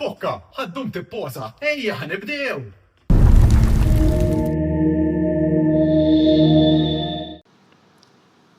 Pokka, ħaddum tipposa, ejja ħanibdew!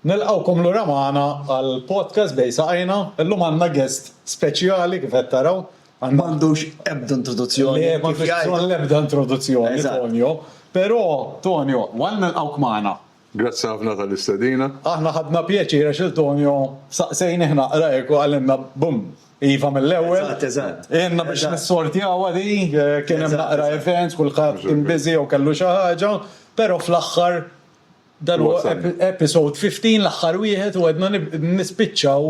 Nilqawkom l magħna għal podcast bej saqajna, illum għandna guest speċjali kif qed taraw. M'għandux ebda introduzzjoni. Le, m'għandux ebda introduzzjoni, Tonio. Però, Tonio, għal nilqawk magħna, Grazzi ħafna tal-istedina. Aħna ħadna pjaċir għax lil Tonio saqsejnih naqra hekk u qalilna bum! Iva mill-ewwel. Eżatt, eżatt. Għinna biex nissortjawha di, kien hemm naqra events, kulħadd kien busy jew kellu xi ħaġa, però fl-aħħar dan huwa episode 15 l-aħħar wieħed u għedna nispiċċaw.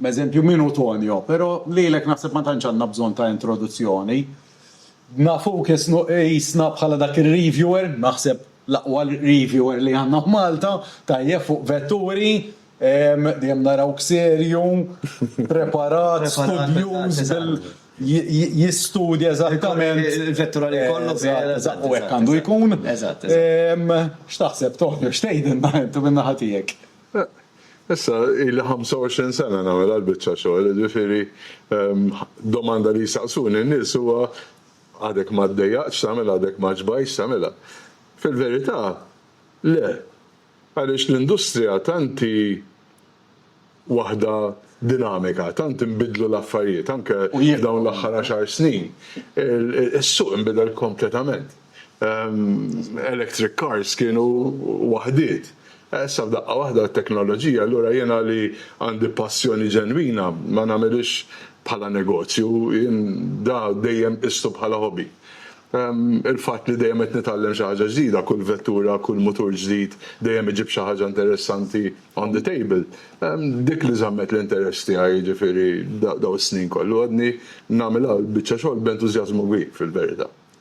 M'eżempju min hu Tonio? Pero' lilek naħseb ma tantx għandna bżonn ta' introduzzjoni. Nafuk isnu qisna bħala dak ir-reviewer, naħseb l-aqwa reviewer li għandna f'Malta, tajjeb fuq vetturi, dejjem narawk serju, preparat, studjuż bil jistudja eżattament il-vettura li jkollok, eżatt u hekk għandu jkun. X'taħseb Tonio, x'tgħidilna int minn naħa tiegħek? Issa ili 25 sena nagħmel għal biċċa xogħol, jiġifieri domanda li jsaqsuni n-nies huwa għadek ma ddejjaqtx tagħmilha, għadek ma ġbajtx tagħmilha. Fil-verità, le, għaliex l-industrija tant hi waħda dinamika, tant inbidlu l-affarijiet, anke f'dawn l-aħħar għaxar snin, is-suq inbidel kompletament. electric cars kienu waħdiet. Issa f'daqqa waħda t-teknoloġija, allura jiena li għandi passjoni ġenwina ma nagħmilhiex bħala negozju, jien da dejjem qistu bħala hobby. Il-fatt li dejjem qed nitgħallem xi ħaġa ġdida, kull vettura, kull mutur ġdid dejjem iġib xi ħaġa interessanti on the table, dik li żammet l-interess tiegħi jiġifieri dawn is-snin kollu. Għadni nagħmilha l-biċċa xogħol b'entużjażmu kbir fil-verità.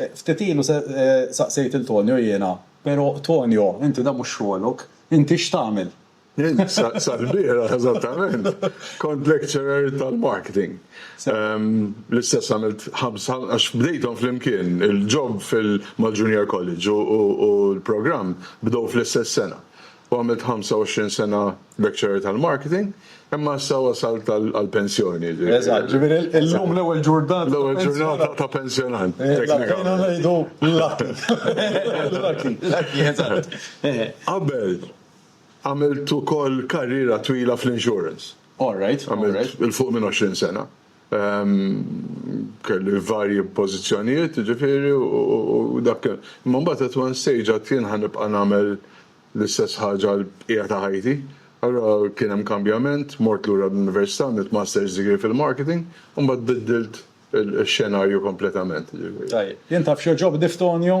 Ftit ilu saqsejt lil Tonio jiena, Pero, Tonio, inti dan mhux xogħlok, inti x'tagħmel? Jien sal-bieraħ eżattament kont lecturer tal-marketing. L-istess għamilt ħamsa, għax bdejthom flimkien, il-job mal-junior college u l-programm bdew fl-istess sena. u għamilt 25 sena lecturer tal-marketing, imma issa wasalt għall-pensjoni. Eżatt, ġifieri illum l-ewwel ġurnata. L-ewwel ġurnata ta' pensjonant. Bdejna ngħidu lucky. Lucky. Lucky, eżatt. Qabel għamilt ukoll karriera twila fl-insurance. All right. Għamilt 'il fuq minn 20 sena. Kelli varji pożizzjonijiet, jiġifieri, u dak kien. Imma mbagħad at one stage għad jien ħa nibqa' nagħmel l-istess ħaġa għall-bqija ta' ħajti. Allura kien hemm kambjament, mort lura l-Università, għamilt Master's Degree fil-Marketing, u mbagħad biddilt ix-xenarju kompletament, jiġifieri. Tajjeb. Jien taf x'jogħġobni f'Tonio?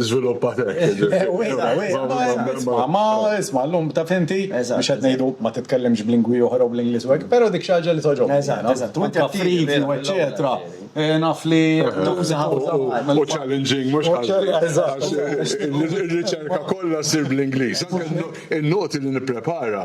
Zviluppa tek. Ma isma, l-lum ta' finti, biex qed ngħidu ma titkellimx b'lingwi oħra u bl-Ingliż u hekk, però dik xi ħaġa li toġob. Eżatt, eżatt. Wint tafrid u eċċetera. Naf li tuża u challenging mhux ħażin. Eżatt. Ir-riċerka kollha ssir bl-Ingliż. In-noti li nipprepara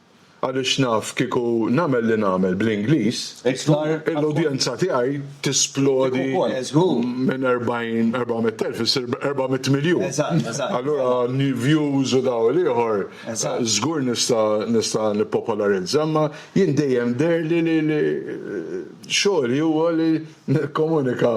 Għaliex naf kieku nagħmel li nagħmel bl-Ingliż, l-udjenza tiegħi tisplodi minn 400,000 issir 400 miljun. Allura views u da u l-ieħor żgur nista' nippopolarizza, imma jien dejjem deherli li xogħli huwa li nikkomunika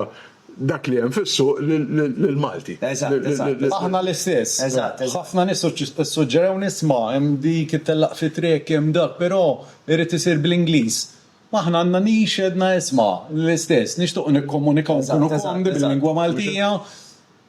dak li hemm fis-suq lill-Malti. Eżatt, eżatt. Aħna l-istess. Eżatt, eżatt. Ħafna nies issuġġerewni, isma' hemm dik it-tellaq fit-triq, hemm dak, però irid isir bl-Ingliż. Aħna għandna nix għedna isma' l-istess, nixtiequ nikkomunikaw u nkunu komdi bil-lingwa Maltija.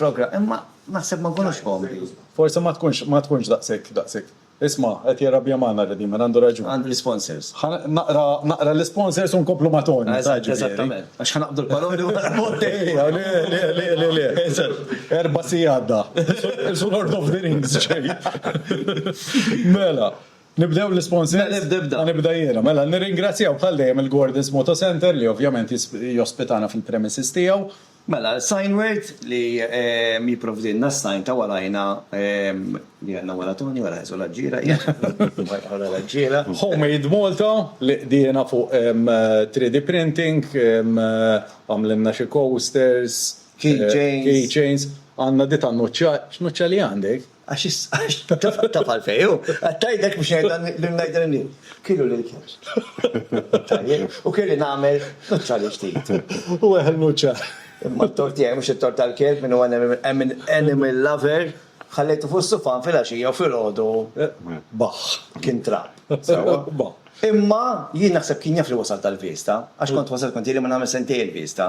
programm, imma naħseb ma nkunux komdi. Forsi ma tkunx, ma tkunx daqshekk, daqshekk. Isma', qed jirrabja magħna Redeemer, għandu raġun. Għandu l-isponsors. Ħa naqra, naqra l-isponsors u nkomplu ma' Tony. Eżatt, jiġifieri. eżattament. Għax ħa naqbdu l-paroli wara l-voti. Ejja, le, le, le, le, le. Eżatt. Erba' siegħi għadda. Isu Lord of the Rings ġej. Mela, nibdew l-isponsors? Mela, ibda, ibda. Ħa nibda jiena. Mela, nirringrazzjaw bħal dejjem il-Gordon's Moto Centre li ovvjament jospitana fil-premises tiegħu. Mela, sign word li jipprovdilna s-sign ta' warajna li għandna wara Toni, wara Ħesu l-Aġġiera, wara l-Aġġiera. Homemade Malta li qdiena fuq 3D printing, għamlilna xi coasters, keychains, għandna di tan-nuċċa, x'nuċċa li għandek? Għax taf għalfej, u għattajdek biex ngħidha li kienu l-ilkers. U kelli nagħmel neutrali ftit. U għeħel muċċa. Imma t-tort tiegħi mhux it-tort tal-kelb min huwa animal lover, ħallejtu fuq is-sufan filgħaxija u filgħodu baħħ, kien trab. Sewwa? Baħħ. Imma jien naħseb kien jaf li wasalt għall-Vista, għax kont wasalt kont jgħidli ma nagħmel sentejn il-Vista.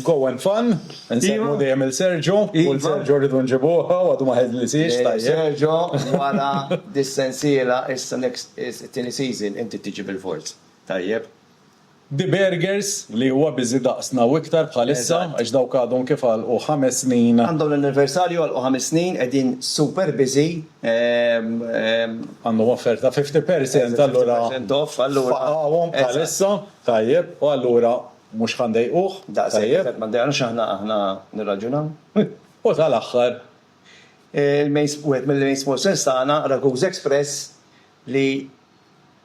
Go and fun, insellmu dejjem lil Sergio, u l-Sergio rridu nġibuh hawn, għadu ma ħeżlisiex, tajjeb. Sergio, wara dis-sensiela, issa next, it-tieni season, inti tiġi bilfors, tajjeb? De Burgers, li huwa busy daqsna u iktar bħalissa, għax dawk għadhom kif għalqu ħames snin. Għandhom l-anniversarju, għalqu ħames snin, qegħdin super busy, ehm. Għandhom offerta fifty percent allura. Fifty percent off, allura. Faqgħuhom bħalissa, tajjeb, u allura Mhux ħa ndejquh. Daqshekk qed ma ddejqnux aħna, aħna nirraġunaw. U tal-aħħar, wieħed mill-main sponsors tagħna, Raguse Express, li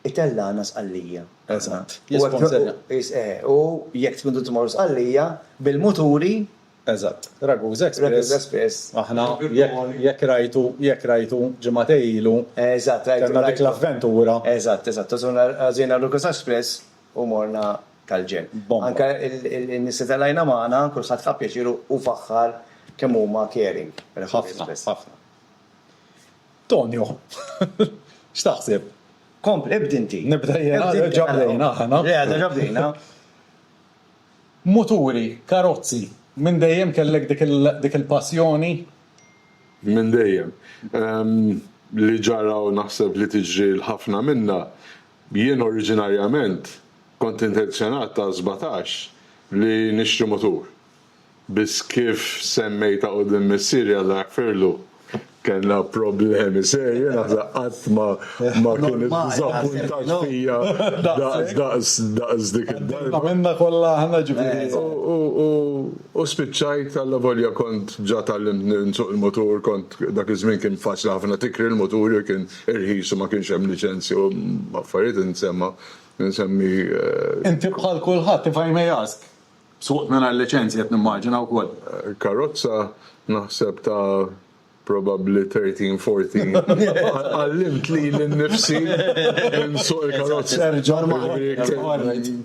itellagħna Sqallija. Eżatt. Jisponsorja. Eżatt. U jekk tridu tmorru Sqallija bil-muturi. Eżatt. Raguse Express. Raguse Express. Aħna, jekk rajtu, jekk rajtu ġimagħtej ilu. Eżatt, rajtu. Kellna dik l-avventura. Eżatt, eżatt. Għażilna Raguse Express u morna tal-ġenn. Bomba. Anke n-nies li telajna magħna kulħadd ħa pjaċir u faħħar kemm huma caring. Ħafna, ħafna. Tonio, x'taħseb? Kompli, ibda inti. Nibda jien, għad diġà bdejna aħna. Le, għad diġà bdejna. Muturi, karozzi, minn dejjem kellek dik il-passjoni? Minn dejjem. Li ġara u naħseb li tiġri 'l ħafna minna, Jien oriġinarjament kont intenzjonat ta' sbatax li nixtri mutur. Biss kif semmejtha quddiem missieri Alla jaħfirlu, kellna problemi serji naħseb qatt ma ma kien iddiżappuntat fija daqs daqs dik id-darba. U u spiċċajt allavolja kont ġa tgħallimt nsuq il-mutur kont dak iż-żmien kien faċli ħafna tikri l-mutur jekk irħis u ma kienx hemm liċenzji u affarijiet insemma insemmi. Inti bħal kulħadd, if I may ask, suqt mingħajr liċenzji qed nimmaġina wkoll. Karozza naħseb ta' probabbli thirteen, fourteen. Għallimt lili nnifsi nsuq il-karozza.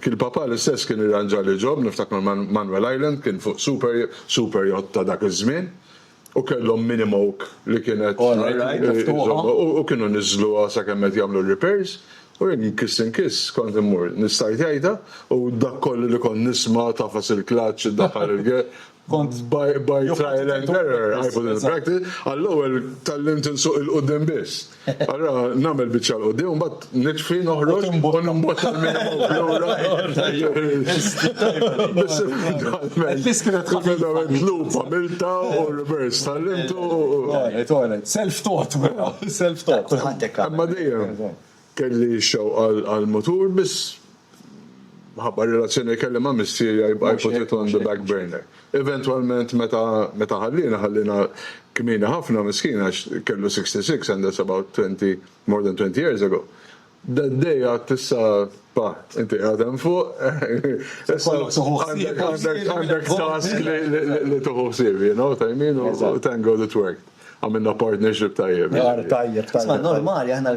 Kien papà l-istess kien irranġali job, niftakar Manuel Island kien fuq super super yacht ta' dak iż-żmien. U kellhom mini moke li kienet iżommhom u kienu niżżluha sakemm qed jagħmlu r-repairs u jien inkiss inkiss kont immur nistajt għajta u dak kollu li kont nisma' tafas il-clutch iddaħħal il-gear kont by trial and error I put it into practice għall-ewwel tgħallimt insuq il-quddiem biss. Allora nagħmel biċċa l-qudiem u mbagħad nitfi noħroġ u nimbotta l-minimum lura. L-iskrivet lupa milta u reverse tal-lintu. Toilet, toilet. Self-taught, vera. Self-taught. Kulħadd hekk. Imma dejjem kelli xewqa għal-mutur biss Minħabba r-relazzjoni li kelli ma' missieri I put it on the back burner. Eventwalment meta meta ħalliena ħalliena kmieni ħafna miskin għax kellu 66 and that's about twenty more than twenty years ago. That day għadt issa pa inti qiegħed hemm fuq għandek għandek task li li li tieħu ħsieb you know what I mean u thank God it worked. Għamilna partnership tajjeb. Mar tajjeb tajjeb. Isma' normali aħna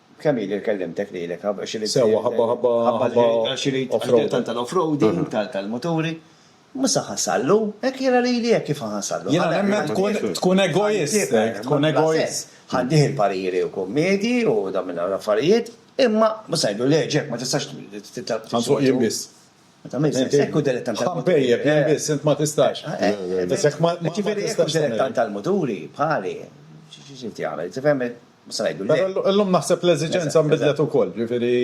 Kemm ili li kellimtek lilek ħabba xi rid. Sewwa ħabba ħabba ħabba offroad. Tant tal-offroading, tal-muturi. Mhux se ħasallu, hekk jiena lili hekk kif ħasallu. Jiena nemmen tkun egoist, tkun egoist. Ħaddih il-pariri u kummedi u dawn minn dawn l-affarijiet, imma mhux se ngħidlu le Jack ma tistax titgħallem tisuq. Ħansuq jien biss. Ma tagħmilx sens, hekk hu dilettant tal-muturi. Ħa npejjep jien biss, int ma tistax. Ġifieri hekk hu dilettant tal-muturi bħali. Xi trid jagħmel, tifhem? Mhux se ngħidu le. Però llum naħseb l-eżiġenza nbidlet ukoll, jiġifieri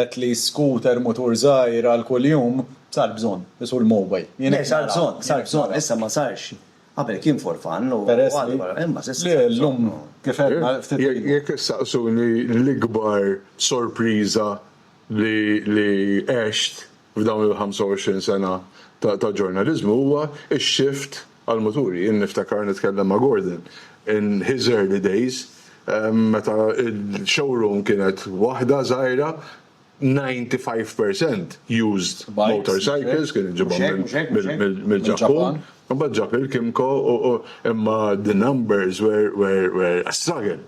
at least scooter, mutur żgħir għal kuljum, sar bżonn, isu l-mowbajl. Le, sar bżonn, sar bżonn, issa ma sarx. Qabel kien for fun u għal, imma s'issa. Le, llum kif għedna ftit ilu. Jekk issaqsuni l-ikbar sorpriża li għext, f'dawn il-25 sena ta' ġurnaliżmu huwa x-xift għall-muturi. Jien niftakar, nitkellem ma' Gordon, in his early days, meta l-showroom kienet waħda żgħira, 95 per cent used motorcycles kienu jġibhom mill-Ġappun, imbagħad ġab il-Kymco, imma the numbers were a struggle.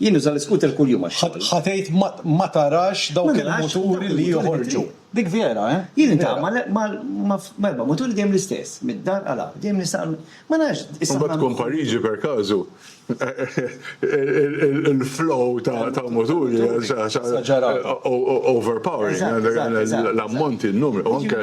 Jien nuża l-iskuter kuljum għax-xogħol. Ħa tgħid ma tarax dawk il-muturi li joħorġu. Dik vera, eh? Jien nintgħama m'erba' muturi dejjem l-istess, mid-dar għal hawn. Dejjem nistaqar, ma nafx, issa ħna. Imbagħad tkun Pariġi per każu, il-flow ta' muturi, overpowering, l-ammonti, n-numri, u anke.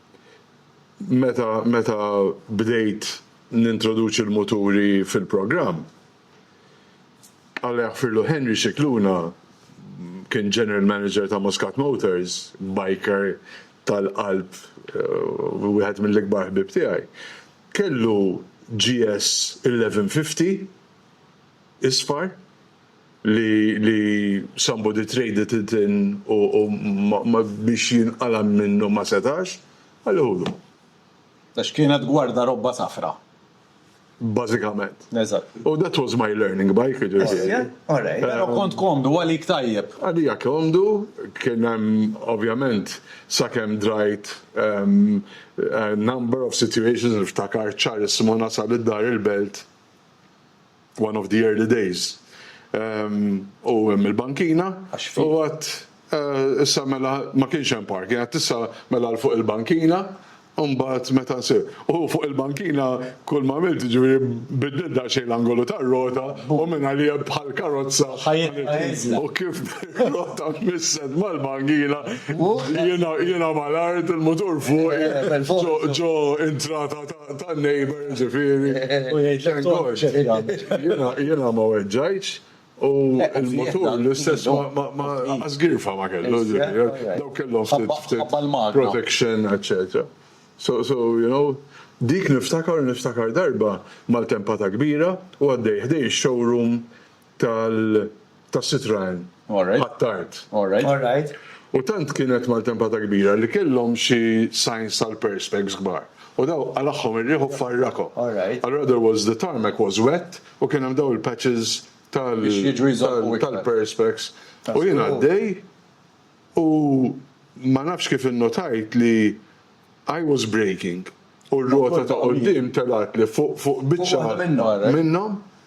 meta meta bdejt nintroduċi l-muturi fil-programm. Alla jaħfirlu Henry Scicluna kien general manager ta' Muscat Motors, biker tal-qalb eh, wieħed mill-ikbar ħbieb tiegħi. Kellu GS 1150 isfar li li somebody traded it in u u ma biex jinqala' minnu ma setax, ħalliħulu. Għax kienet gwarda robba safra. Bażikament. Eżatt. U that was my learning by jiġifieri. All right. Però kont komdu għalik tajjeb. Għalija komdu, kien hemm ovvjament sakemm drajt number of situations niftakar ċarissimo nasal id-Dar il-Belt, One of the early days. U hemm il-bankina. Għax fi. U għad issa mela ma kienx hemm parking, għad issa mela 'l fuq il-bankina, u mbagħad meta nsir. U fuq il-bankina kull ma għamilt jiġifieri bidlilt daqsxejn l-angolu tar-rota u minn għalija bħal karozza. Ħajjitna. U kif ir-rota missed mal-bankina, jiena jiena mal-art, il-mutur fuqi, ġo ġo intrata ta' Ta' neighbor ġifieri. U jgħidlek toħroġ x'qed jagħmel. Jiena ma weġġajtx u l-mutur l-istess ma lanqas girfa ma kellu ġifieri. Dawk kellhom ftit ftit protection eċċetera. So so you know dik niftakar u niftakar darba maltempata kbira u għaddej ħdej ix-showroom tal tas-Citroen għat-tard. U tant kienet maltempata kbira li kellhom xi signs tal-perspex kbar u daw qalagħhom ir-riħ u farrakhom. Allura there was the tarmac was wet u kien hemm daw il-patches tal tal-perspex u jien għaddej u ma nafx kif innotajt li I was braking u r-rota ta' quddiem telgħatli fuq fuq biċċa minnhom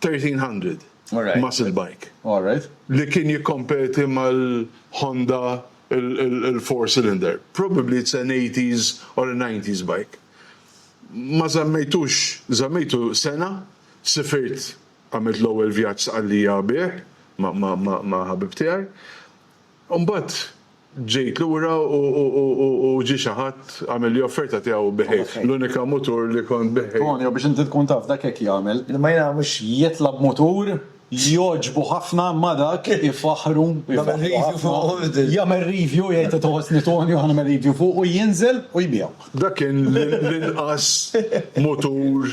1300 muscle bike li kien jikkompeti mal-Honda il-four cylinder. Probably it's an eighties or a nineties bike. Ma żammejtux, żammejtu sena, sifirt għamilt l-ewwel vjaġġ Sqallija bih ma' ħabib tiegħi. Imbagħad ġejt lura u ġie xi ħadd għamilli offerta tiegħu biħejh, l-unika mutur li kont biħejh. Tonio, biex inti tkun taf, dak hekk jagħmel. Imma jiena mhux jitla' b'mutur, jogħġbu ħafna, ma dak, ifaħħru, jagħmel review fuqu, jagħmel review, jgħid qed iħossni Tonio, ħa nagħmel review fuqu, jinżel u jbiegħu. Dak kien l-inqas mutur.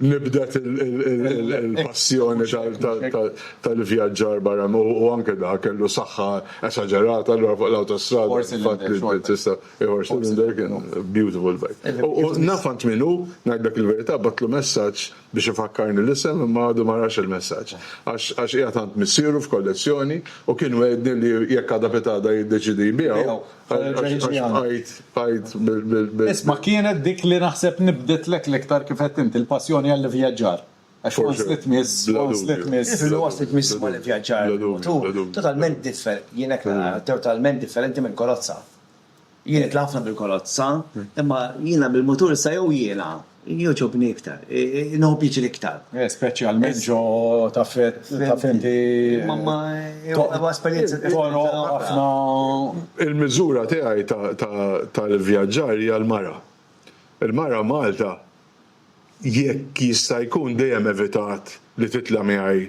nibdet il-passjoni tal-ivvjaġġar barra u anke dak kellu saħħa esaġerata allura fuq l-awtostrada. Four cylinder. Tista' four cylinder kien beautiful bike. U naf għand min hu, ngħidlek il-verità, bagħatlu messaġġ biex ifakkarni l-isem imma għadu ma rax il-messaġġ. Għax qiegħed għand missieru f'kollezzjoni u kien wegħedni li jekk għada pitgħada jiddeċiedi jbiegħu. Isma' kienet dik li naħseb nibditlek l-iktar kif għedt inti l-passjoni għall-ivvjaġġar. Għax once li tmiss, once li tmiss. Iva, once li tmiss ma' l-ivvjaġġar. Totalment differ, jien hekk nara, totalment differenti minn kolozza. Jien nitla' ħafna bil-kolozza, imma jiena bil-mutur issa jew jiena. Jogħġobni iktar, inħobb jiġi l-iktar. Eh, speċjalment ġo ta' fett, ta' fenti. Mamma, huwa esperjenza toro ħafna. Il-miżura tiegħi tal-vjaġġar hija l-mara. Il-mara Malta jekk jista' jkun dejjem evitat li titla' miegħi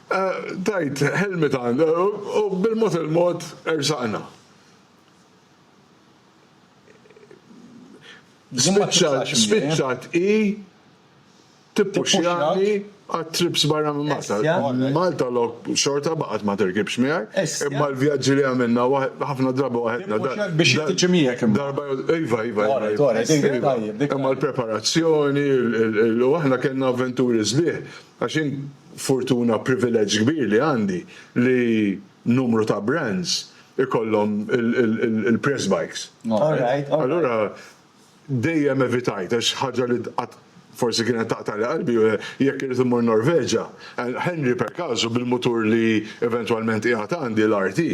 Tajt ħelmiet għand u bil-mod il-mod ersaqna. Spiċċat hi tippuxxjani għat-trips barra minn Malta. Malta lok xorta baqgħet ma tirkibx miegħi, imma l-vjaġġi li għamilna ħafna drabi waħedna. Tippuxxjak biex hi tiġi miegħek imbagħad. Iva, iva, iva. Imma l-preparazzjoni, u aħna kellna avventuri sbieħ. Għax hi fortuna, privileġġ kbir li għandi li numru ta' brands ikollhom il-press bikes. Allura dejjem evitajt għax ħaġa li qatt forsi kienet taqtagħli qalbi hu jekk irrid immur Norveġa, Henry per casu bil-mutur li eventwalment qiegħed għandi, l-RT,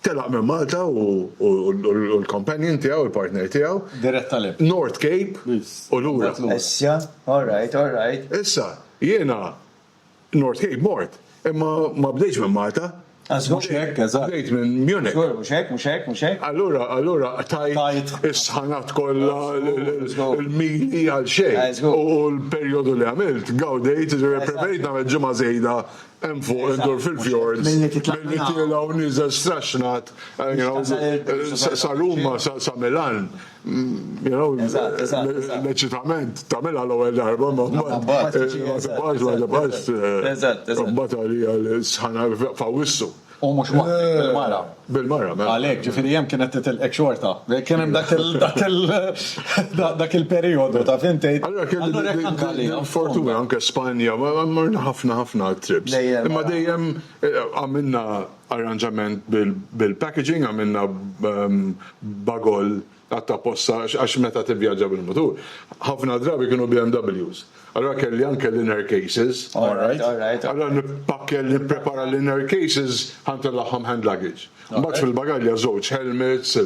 Telaq minn Malta hu u l-companion tiegħu, il-partner tiegħu. Dirett għal hemm. North Cape u lura. Issa, all right, all right. Issa, jiena North Cape mort, imma ma bdejtx minn Malta. Għax mhux hekk, eżatt. Bdejt minn Munich. Żgur, mhux hekk, mhux hekk, mhux hekk. Allura, allura qtajt is-sħanat kollha, il-mili għal xejn. U l-perjodu li għamilt, gawdejt, ġifieri preferejt nagħmel ġimgħa żejda Hemm fuq indur fil-fjords. Milli titla' minn hawn. Milli tiela' u nieżel straxxnat. Sa Ruma, sa Milan. L-eċitament tagħmilha l-ewwel darba imma mbagħad. Ma tibqax, ma tibqax. Mbagħad għalija l-sħana f'Awwissu. U mhux waħdek, bil-mara. Bil-mara, mela. Għalhekk, ġifieri hemm kienet titilqek xorta. Kien hemm dak il- dak il- dak il-perijodu, taf int tgħid. Allura kelli l-fortuna anke Spanja, morna ħafna ħafna trips. Imma dejjem għamilna arranġament bil-packaging, għamilna bagol. Qatt apposta għax meta tivvjaġġa bil-mutur, ħafna drabi kienu BMWs. Allura kelli anke l-inner cases. Alright, alright. Allura nippakkel, nipprepara l-inner cases ħa ntellagħhom hand luggage. Mbagħad fil-bagalja żewġ helmets,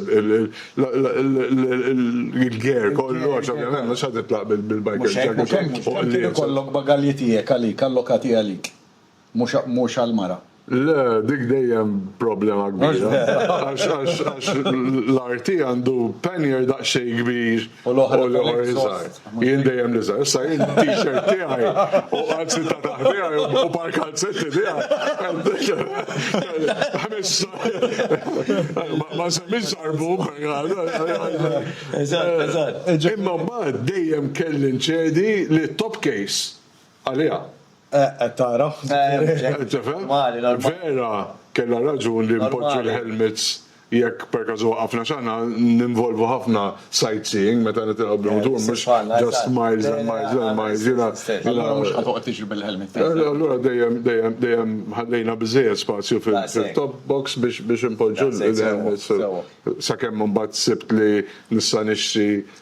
il-gear kollu għax ovvjament mhux ħa titlaq bil-biker jacket. Mhux hekk, mhux hekk. Kien ikollok bagalji tiegħek għalik, allokati għalik. Mhux għall-mara. Le, dik dejjem problema kbira. Għax l-arti għandu pannier daqsxejn kbir u l-oħra iżgħar. Jien dejjem l-iżgħar. Issa jien t-t-shirt tiegħi u anzi ta' taħt tiegħi u par kalzetti tiegħi. Ma nsemmix żarbub. Eżatt, eżatt. Imma mbagħad dejjem kelli nċedi lit-top case għaliha. Eħ, qed tara? Tifhem? Vera kellha raġun li npoġġu l-helmets jekk perkażu waqafna x'aħna ninvolvu ħafna sightseeing meta nitilgħu bil-mutur mhux just miles and miles and miles jiena Allura mhux ħa toqgħod tiġri bil-helmet. Allura dejjem dejjem dejjem ħallejna biżżejjed spazju fit-top box biex inpoġġu l-helmets sakemm imbagħad sibt li nista' nixtri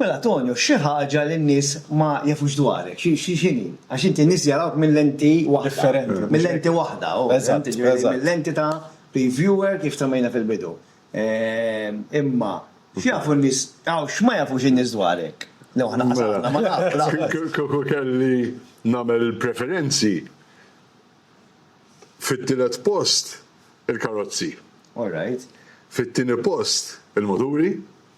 Mela Tonio, xi ħaġa li n-nies ma jafux dwarek, xi x'inhi? Għax inti n-nies jarawk minn lenti waħda. Differenti, mhux hekk? Minn lenti waħda, hu, fehimtni? Eżatt, eżatt. Jiġifieri minn lenti ta' reviewer kif semmejna fil-bidu. Imma, x'jafu n-nies, aw x'ma jafux in-nies dwarek? Lew aħna qasatna ma nafu lanqas. Kieku kelli nagħmel il-preferenzi, fit-tielet post il-karozzi. All right. Fit-tieni post il-muturi.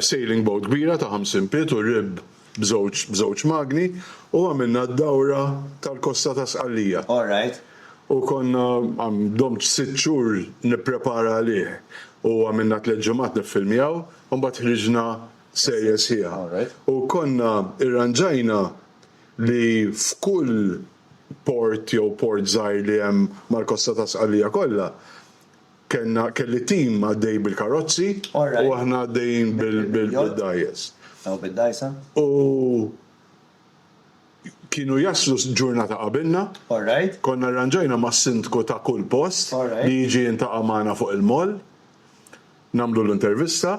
sailing boat kbira ta' 50 pied u rib b'żewġ magni u għamilna d-dawra tal-kosta ta' Sqallija. U konna, domtx sitt xhur nipprepara għalih u għamilna tliet ġimgħat niffilmjaw u mbagħad ħriġna serje sħiħa. U konna irranġajna li f'kull port jew port żgħir li hemm mal-kosta ta' Sqallija kollha, Kellna, kelli tim għaddej bil-karozzi u aħna għaddejjin bil-dgħajjes. Taw bid-dgħajsa. U kienu jaslu ġurnata qabilna. Konna rranġajna mas-sindku ta' kull post li jiġi jintaqa' magħna fuq il-moll, nagħmlulu intervista.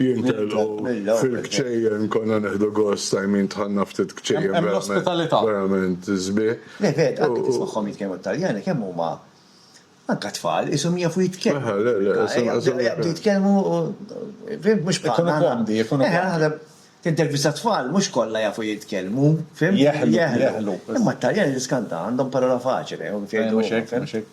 jintelqu fil-kċejjen konna neħdu gost I mean dħalna ftit kċejjen verament verament sbieħ. Le vera anke tismagħhom jitkellmu t-Taljani kemm huma anke tfal qishom jafu jitkellmu. Le le le. Jaqbdu jitkellmu fimt mhux bħalna. Ikunu komdi ikunu komdi. Eħe naħseb tintervista tfal mhux kollha jafu jitkellmu fimt. Jeħlu jeħlu. Imma t-Taljani tiskanta għandhom parola faċile. Mhux hekk mhux hekk.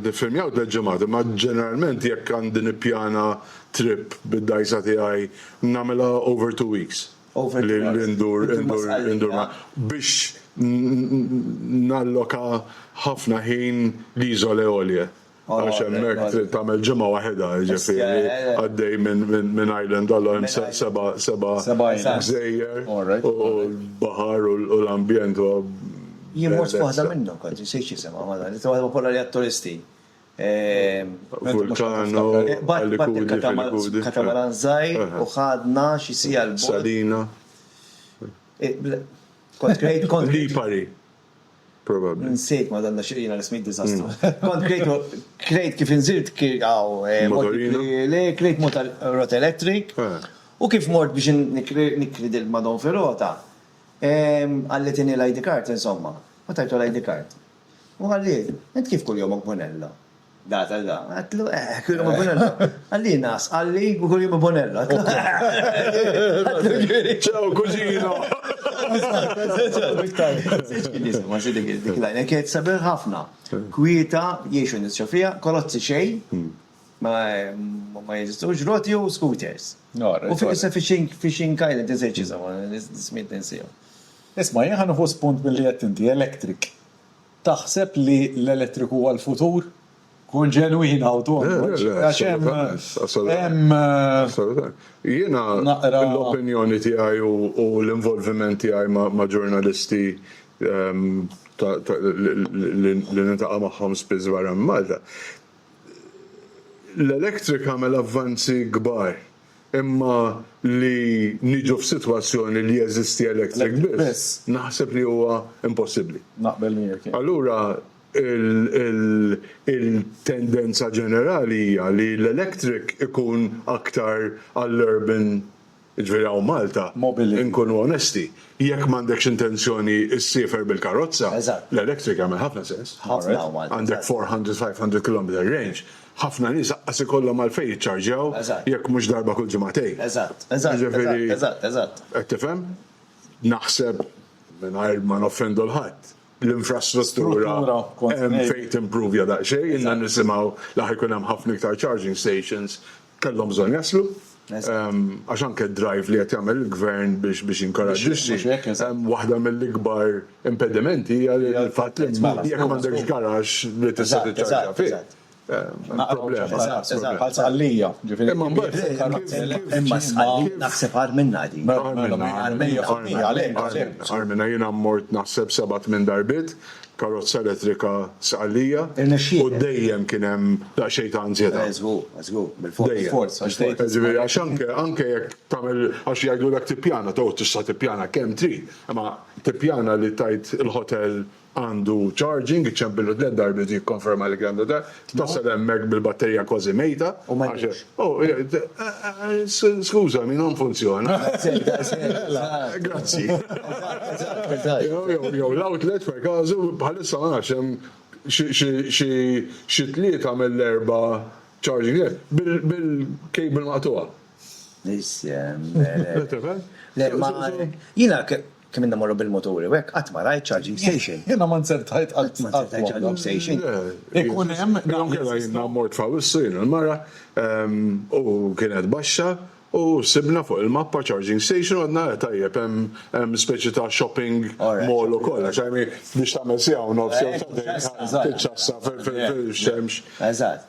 Niffilmjaw tliet ġimgħat, imma ġeneralment jekk għandi nippjana trip bid-dgħajsa tiegħi nagħmilha over two weeks li ndur biex nalloka ħafna ħin l-Isole Olie għax hemmhekk trid tagħmel ġimgħa waħedha jiġifieri għaddej minn island għal hemm seba' seba' gżejjer u l-baħar u l-ambjent huwa Jien mort f'waħda minnhom, kont insejt x'isimha, mara li waħda kollha li għat-turisti. Vulcano, Alicudi, Filicudi. Katamaran żgħir u ħadna xi siegħa 'l bogħod. Salina. Kont krejt, kont. Lipari, probabbli. Nsejt, Madonna, xi jiena l-ismijiet diżastru. Kont krejt, krejt kif inżirt hawn. Motorino. Le, krejt motor elettriku. U kif mort biex nikri dil-Madon Firota, Ehm, qalli tieni l-ID card, insomma. U tajtlu l-ID card. U qalli, int kif kuljum ibbunella? Data da. Għedtlu, eh, kuljum ibbunella. Qalli, nas, qalli, u kuljum ibbunella. Ċaw, kuġino. Ma si dik dik lajna kienet sabiħ ħafna. Kwieta, jiexu nisċu fija, kolozzi xejn. Ma jeżistux roti u scooters. U fuq issa fishing island insejt x'isema, smiet ninsihom. Isma' jien ħa nieħu spunt milli għedt inti, electric. Taħseb li l-elettriku huwa l-futur? Kun ġenwin hawn tonqodx. Għax hemm. Assolutament. Assolutament. Jiena l-opinjoni tiegħi u l-involviment tiegħi ma' ġurnalisti li niltaqa' magħhom spiss barra minn Malta, L-electric għamel avvanzi kbar imma li niġu f'sitwazzjoni li jeżisti electric biss naħseb li huwa impossibbli. Naqbel miegħek jien. Allura il-tendenza ġenerali hija li l-electric ikun aktar għall-urban Jiġifieri hawn Malta, inkunu onesti, jekk m'għandekx intenzjoni ssiefer bil-karozza, l-electric jagħmel ħafna sens. Għandek four hundred, five hundred kilometer range, ħafna nies aqqas ikollhom għalfejn jiċċarġjaw jekk mhux darba kull ġimagħtejn. Jiġifieri, qed tifhem? Naħseb, mingħajr ma noffendu 'l ħadd, l-infrastruttura hemm fejn timprovja daqsxejn, ilna nisimgħu li ħa jkun hemm ħafna iktar charging stations, kellhom bżonn jaslu. Għax anke d-drive li qed jagħmel il-Gvern biex biex jinkoraġġixxi, waħda mill-ikbar impedimenti hija l-fatt li jekk m'għandekx garaxx li tista' tiċċarġja fih. Bħal sqallija, ġifiri. Imma imma sqallija naħseb għar minna di. Għar minna jina mort naħseb sebat minn darbit, karozza elettrika sqallija. U dejjem kienem daqxej ta' anzjeta. Zgur, zgur, bil-fors. Ġifiri, għax anke, anke jek tamel, għax jgħidu l-ek tipjana, taw tista tipjana kem tri, imma tipjana li tajt il-hotel Għandu charging, iċċempillu tliet darbiet u jikkonferma li għandu da. Tasal hemmhekk bil-batterija kważi mejta. U ma jidhirx. Oh, eh, eh, eh, skużami, non funzjona. Grazzi. Jew l-outlet per każu bħalissa ma nafx hemm xi tlieta mill-erba' charging bil-cable maqtuha. Isem. Jina Kemm ilna mmorru bil-muturi u hekk qatt ma rajt charging station. Jiena ma nzertajt qatt ma rajt charging station. Ikun hemm naqra. Jew inkella jiena mort f'Awwissu jien u l-mara u kienet baxxa u sibna fuq il-mappa charging station u għadna le tajjeb hemm speċi ta' shopping mall u kollox għajr biex tagħmel siegħa u nofs jew sagħtejn tiċċassa fil-xemx. Eżatt.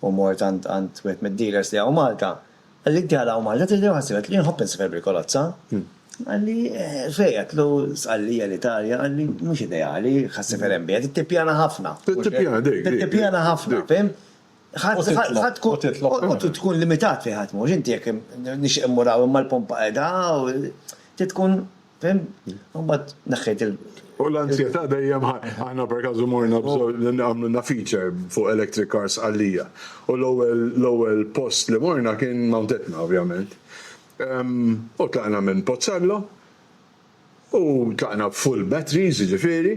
U mort għand għand wieħed mid-dealers li hawn Malta. Qalli inti għal hawn Malta trid tieħu ħsieb, għedtlu jien nħobb insifer bil-kolozza. Qalli fej, għedtlu Sqallija l-Italja, qalli mhux ideali, ħa ssifer hemm biha, trid tippjana ħafna. Trid tippjana dik. Trid tippjana ħafna, fim? Ħa tkun u tkun limitat fejn ħa tmur, inti jekk nixtieq immur hawn imma l-pompa qegħda hawn, trid tkun Fim? U mbagħad neħħejt il- U l-anzjetà dejjem ħa. Aħna perkażu morna għamlilna feature fuq electric cars Sqallija. U l-ewwel l-ewwel post li morna kien Mount Etna ovvjament. U tlaqna minn Pozzallo u tlaqna b'full batteries jiġifieri.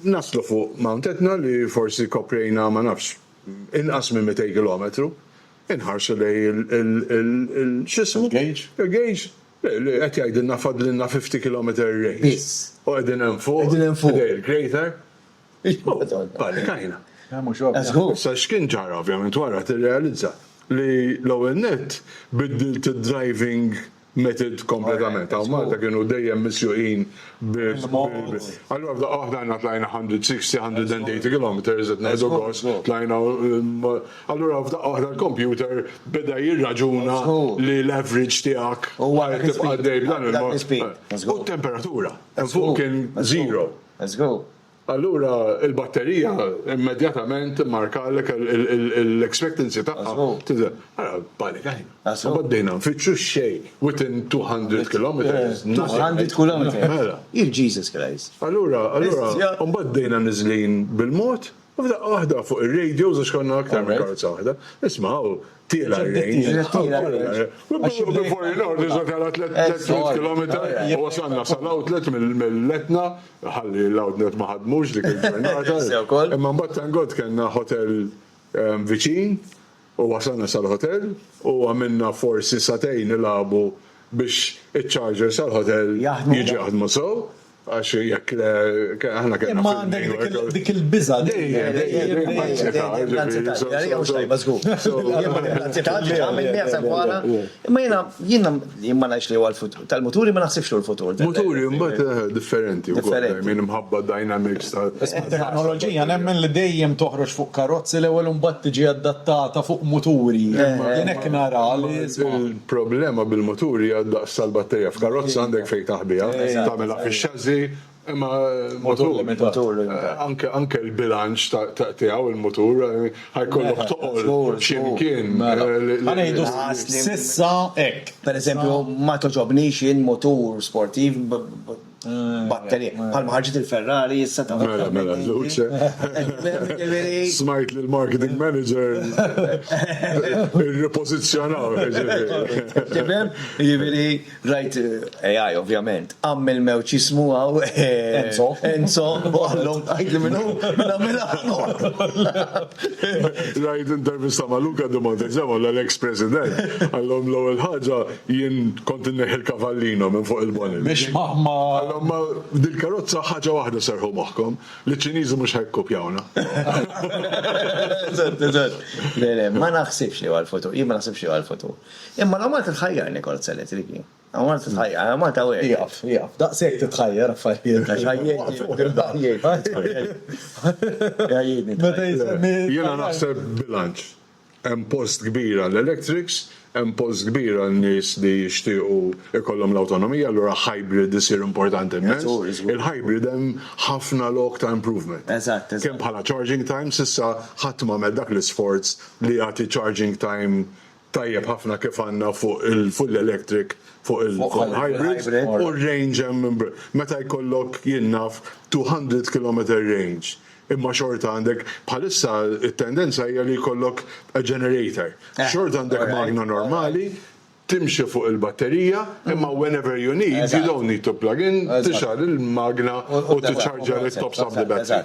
Naslu fuq Mount Etna li forsi koprejna ma nafx inqas minn mitej kilometru. Inħarsu lejn il-x'ismu? Il-gauge. Il-gauge. Qed jgħidilna fadlilna 50 kilometer range. Biss. U qegħdin hemm fuq. Qegħdin hemm fuq. Ħdej il-crater. Panikajna. Mhux ovvja. Żgur. Issa x'kien ġara ovvjament wara tirrealizza li l-ewwel nett biddilt id-driving method kompletament. Hawn Malta kienu dejjem misjuqin bil. Allura f'daqqa waħda aħna tlajna 160, 180 kilometers qed nieħdu gost, tlajna Allura f'daqqa waħda l-kompjuter beda jirraġuna li l-average tiegħek għal tibqa' għaddej b'dan il-mod. U t-temperatura hemm fuq kien zero. Allura l-batterija immedjatament immarkalek l-expectancy tagħha tidher. Ara panikajna. Imbagħad bdejna nfittxu x-xejn within 200 kilometres. 200 kilometres. Mela. Jesus Christ. Allura, allura, imbagħad bdejna niżlin bil-mod. U f'daqqa waħda fuq ir-radio, għax konna aktar minn karozza waħda, isma' hawn tiela' r-range. Before you know, diġà tela' tliet kilometer u wasalna sal-outlet mill-Etna, ħalli l-outlet ma ħadmux dik il-ġurnata. Imma mbagħad thank God kellna hotel viċin, U wasalna sal-ħotel u għamilna forsi sagħtejn nilagħbu biex iċ-chargers tal-ħotel jiġu jaħdmu sew, għax jekk le aħna kellna fil-mail. Imma għandek dik il-biża' dejjem, dejjem, dejjem, dejjem, mhux tajba żgur. Imma jiena, jiena ma ngħidx li huwa l-frott. Tal-muturi ma naħsibx hu l-futur. Muturi mbagħad eh, differenti wkoll eh, minn imħabba dynamics ta' teknoloġija nemmen li dejjem toħroġ fuq karozzi l-ewwel imbagħad tiġi adattata fuq muturi. Hekk eh, nara Il-problema bil-muturi għad daqs tal-batterija f'karozza għandek fejn taħbiha, tagħmilha fix-xażi Imma motur limitat. Anke anke l-bilanċ ta' tiegħu il-motur ħajkollok toqgħod x'imkien. Ħanejdu sissa hekk. Pereżempju ma toġobnix jien motur sportiv batterija. Bħalma ħarġet il-Ferrari issa ta' Mela mela luċe. Smajt li l-marketing manager irripożizzjonaw. Tifhem? Jiġifieri Rajt AI ovvjament, għamm il-mewt x'jismu hawn Enzo. Enzo, u qallhom tgħidli min hu, nagħmilha b'mod. Rajt intervista ma' Luca di Montezemolo, l-eks President, qallhom l-ewwel ħaġa jien kont inneħħi l-kavallino minn fuq il-bonnet. Biex ma. Qallhom ma dil-karozza ħaġa waħda serrħu moħħkom, li ċ-Ċiniżi mhux ħa jikkupjawna. Eżatt, eżatt. Le, le, ma naħsibx li huwa l-futur. Jien ma naħsibx li huwa l-futur. Imma la Malta tħajjar Nichols Elettriki. La Malta tħajjar, la Malta wegħdet. Ieqaf, ieqaf, daqshekk titħajjar affarijiet. Għax għajjejtni. Għajjejtni. Meta jisemmi. Jiena naħseb bilanċ. Hemm post kbir għall-electrics, hemm post kbir għal nies li jixtiequ jkollhom l-awtonomija, allura hybrid isir importanti immens. Il-hybrid hemm ħafna lok ta' improvement. Eżatt, eżatt. Kemm bħala charging time, s'issa ħadd m'għamel dak l-isforz li jagħti charging time tajjeb ħafna kif għandna fuq il-full electric, fuq il-hybrid u r-range hemm meta jkollok jien naf 200 kilometer range imma xorta għandek bħalissa t-tendenza hija li jkollok a generator. Xorta għandek magna normali timxi fuq il-batterija imma whenever you need, you don't need to plug in, tixgħal il-magna u tiċċarġja it-tops of the battery.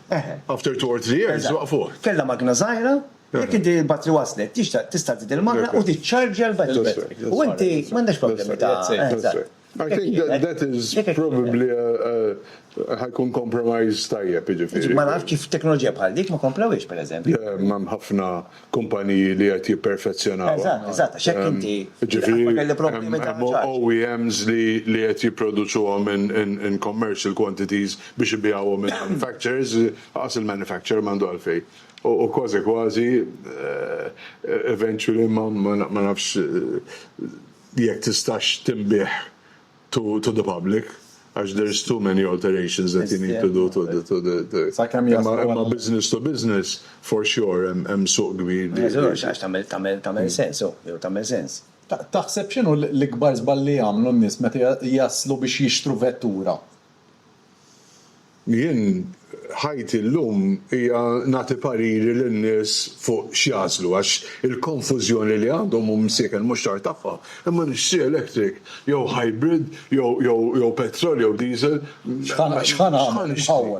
After two or three years, waqfuh. Kellha magna żgħira, jekk inti l-batri waslet, tista' żżid il-magna u tiċċarġja l-batri. U inti m'għandekx problemi ta' eżatt. I think that is probably ħa jkun compromise tajjeb jiġifieri. Ma nafx kif teknoloġija bħal dik ma komplewhiex pereżempju. Hemm ħafna kumpaniji li qed jipperfezzjonawha. Eżatt, eżatt, għax hekk inti. Jiġifieri hemm OEMs li qed jipproduċuhom in commercial quantities biex ibiegħuhom lil manufacturers, lanqas il-manufacturer m'għandu għalfejn. U kważi kważi eventually ma nafx jekk tistax tinbiegħ. to the public għax there is too many alterations that you need to do to the to the imma business to business for sure hemm suq kbir. Tagħmel sens, jew tagħmel sens. Taħseb x'inhu l-ikbar żball li jagħmlu n-nies meta jaslu biex jixtru vettura? Jien ħajti llum hija nagħti pariri lin-nies fuq x'jagħżlu għax il-konfużjoni li għandhom u msieken mhux tard tagħha, imma nixtri electric jew hybrid jew petrol jew diesel, x'ħa nixtri?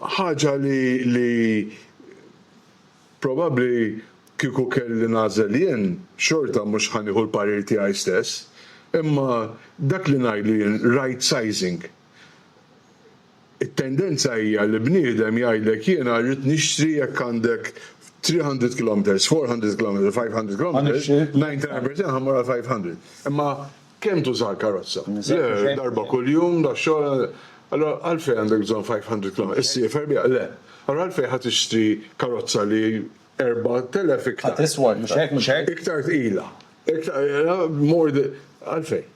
Ħaġa li. Probabbli kieku kelli nagħżel jien, xorta mhux ħa nieħu l-parir tiegħi stess. Imma dak li ngħidu jien right sizing. It-tendenza hija li bniedem jgħidlek jiena rrid nixtri jekk għandek three hundred kilometres, four hundred kilometres, five hundred kilometres, ninety nine percent ħa mmur għall-five hundred. Imma Kemm tuża l-karozza? Le, darba kuljum, dax-xogħol, allura għalfejn għandek bżonn 500 kilometru? Issiefer biha? Le. Allura għalfejn ħa tixtri karozza li 4,000 iktar. Ħa tiswa, mhux hekk, mhux hekk? Iktar tqila. More, għalfejn?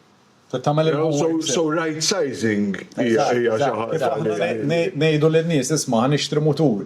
Trid tagħmel il-homework. So right-sizing hija xi ħaġa li. Ngħidu lin-nies, isma', ħa nixtri mutur.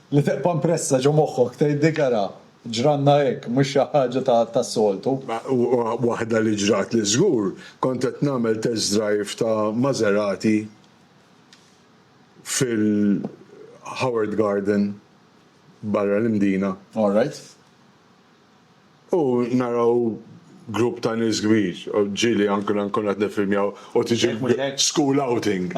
Li teqpa' mpressa ġo moħħok tgħid dik ara, ġranna hekk, mhux xi ħaġa tas-soltu. Ma waħda li ġratli żgur, kont qed nagħmel test drive ta' Maserati fil-Howard Garden barra l-Imdina. All right. U naraw grupp ta' nies kbir, ġieli anke la nkunu qed niffilmjaw u tiġi school outing.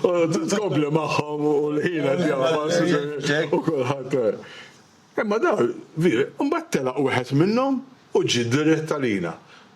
U tkompli magħhom u l-ħin qed jagħfas u kulħadd. Imma dawn, imbagħad telaq wieħed minnhom u ġie dirett għalina.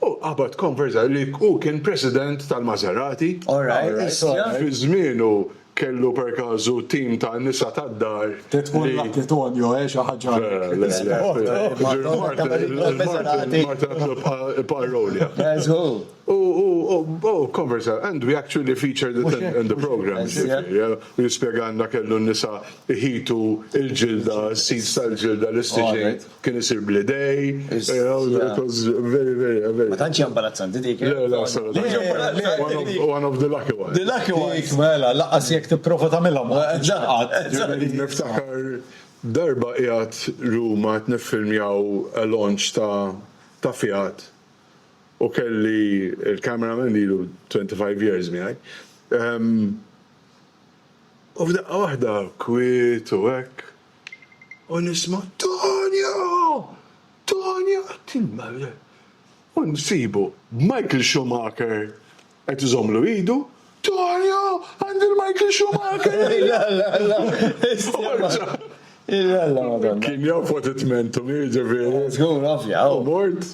Hu qabad konverża li hu kien president tal-Maserati. Alright, isma'. Fi żmienu kellu per każu tim ta' nisa tad-dar li. Trid tkun Lucky Tonio, eh, xi ħaġa hekk. Le, le. Martin, Martin għatlu ibqa' rowlja. Guess who? Hu, hu, hu konverża and we actually featured it in the programme, ġifieri, eh. U jispjegalna kellu n-nisa jħitu l-ġilda, s-seeds tal-ġilda, l-istiġin. kien isir bl-idej. Very, very, very. Ma tantx imbarazzanti dik. Eh? Le, le, assolutament. One of the lucky ones. The lucky ones. Mela, laqas jekk tipprova tagħmilhom. Niftakar darba qiegħed Ruma qed niffilmjaw a launch ta' ta' Fiat u kelli il-cameraman li lu 25 years miegħi. Ehm, u f'daqqa waħda kwiet u hekk U nisma' Tonio! Tonio! U nsibu Michael Schumacher qed iżommlu idu, Tonio! Għandi l-Michael Schumacher! Kien jaf what it meant to me, ġifieri. Żgur, ovvja. U mort.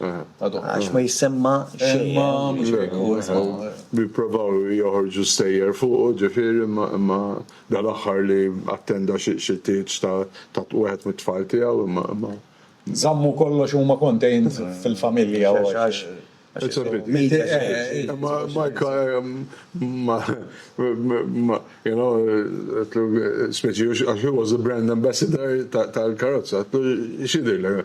Għax ma jissemma xejn. Jipprovaw joħorġu stejjer fuqu, ġifieri, imma dal-aħħar li attenda xi tieġ ta' wieħed mit-tfal tiegħu, imma. Żammu kollox huma contained fil-familja għax. Imma Mike, you know, għedtlu, speċi, għax hu was the brand ambassador tal-karozza, għedtlu, x'jidhirlek?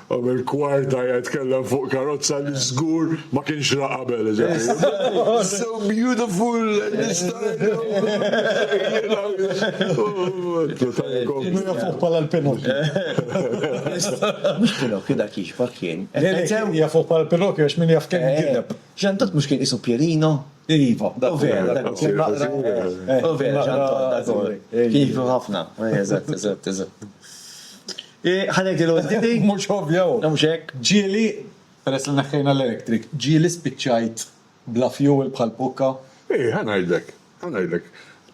Qabel kwarta jgħid tkellem fuq karozza li żgur ma kienx ra qabel. So beautiful, nistgħu. Fuq bħala l-Pinokju. Pinokju dak jixbah kien. Hija fuq bħala l-Pinokju għax min jaf kemm gideb. Ġan Tod mhux kien qisu Pierino? Iva, dak vera. Vera, Ġan Tod. Kien jixbah ħafna. Eżatt, eżatt, eżatt. Ħa ngħidilha waħdi di. Mhux ovvja hu. Mhux hekk? Ġieli, peress li neħħejna l-electric, ġieli spiċċajt bla fuel bħal pukka. Ih, ħa ngħidlek, ħa ngħidlek.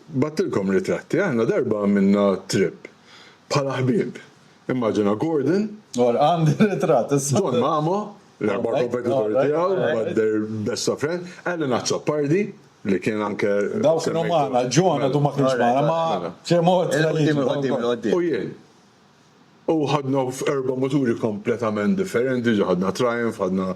Bgħattilkom ritratti, aħna darba għamilna trip bħala ħbieb. Immaġina Gordon. Ora, għandi ritratt issa. John Mamo, l-erba' kompetitori tiegħu, but their best of friends, Alan Azzopardi, li kien anke. Dawk kienu magħna, John għadu ma kienx magħna, ma' Ċemozzi. U jien. U ħadna erba' muturi kompletament differenti, ġa ħadna Triumph, ħadna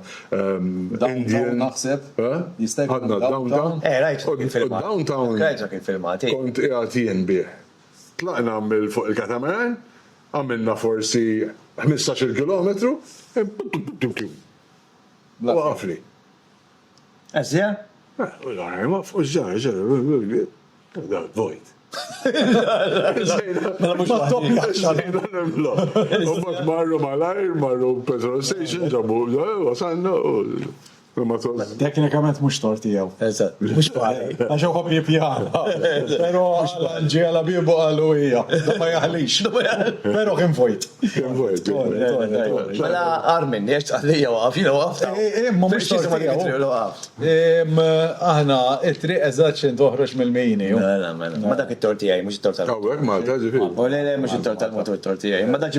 Indian. Naħseb, jista' jkun. Ħadna Downtown. Eh, rajt fuq il-filmat. Downtown. Rajt fuq il-filmat. Kont qiegħed jien bih. Tlaqna mill fuq il-catamaran, għamilna forsi ħmistax-il kilometru, waqafli. Asia? Teknikament mhux tort tiegħu. Eżatt. Mhux pari. Għax hu jħobb jippjana. Però ġie għala biebu qal u hija. Dan ma jaħlix. Però kien vojt. Mela Armin, jiex tqallija waqaf, jina waqaf. Imma mux Aħna, it-triq eżat xin toħroġ mill-mini. Mela, mela. Ma dak it-torti għaj, mux it-torti għaj. Għawek, ma ta' ġifi. U le, le, mux it-torti għaj, mux it-torti għaj. Ma dak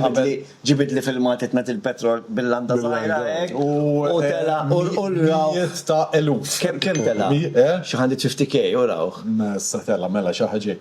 ġibid li fil-mat itnat il-petrol bil-landa zaħira. U tela, u l-raw. Jista' eluf. Kem tela? Xaħan li ċifti kej, u raw. Ma s-satella, mela, xaħġi.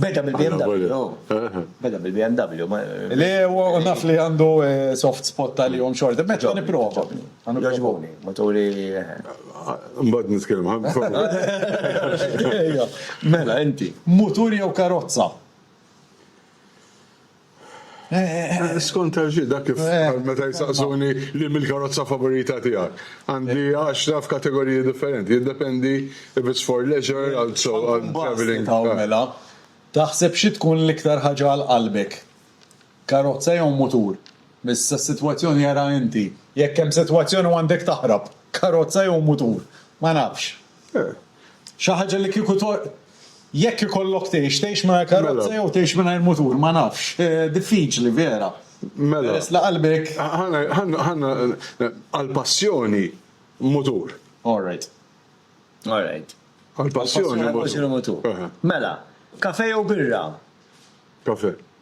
Beda bil-BMW, beda bil-BMW. Le, u naf li għandu eh, soft spot tal-jom xorta, meċa niprofa. Għagħbuni, maturi. Eh. Mbad nitkellem ħabba. Mela, inti. Mutur jew karozza? Skont għal xi dak kif eh. meta jsaqsuni li mill-karozza favorita tiegħek. Għandi għaxra f'kategoriji differenti, jiddependi if it's for leisure għal traveling. Eh. Mela, taħseb xi tkun l-iktar ħaġa għal qalbek? Karozza jew mutur? Missa s-sitwazzjoni jara inti. Jekk hemm sitwazzjoni għandek taħrab, karozza jew mutur? Ma nafx. Xi ħaġa li kieku jekk ikollok tgħix, tgħix mingħajr karozza mela. jew tgħix mingħajr mutur, ma nafx. Eh, diffiċli vera. Mela. Peress la qalbek. Ħanna għall-passjoni mutur. All right. All right. Għall-passjoni mutur. Mela, kafe jew birra? Kafe.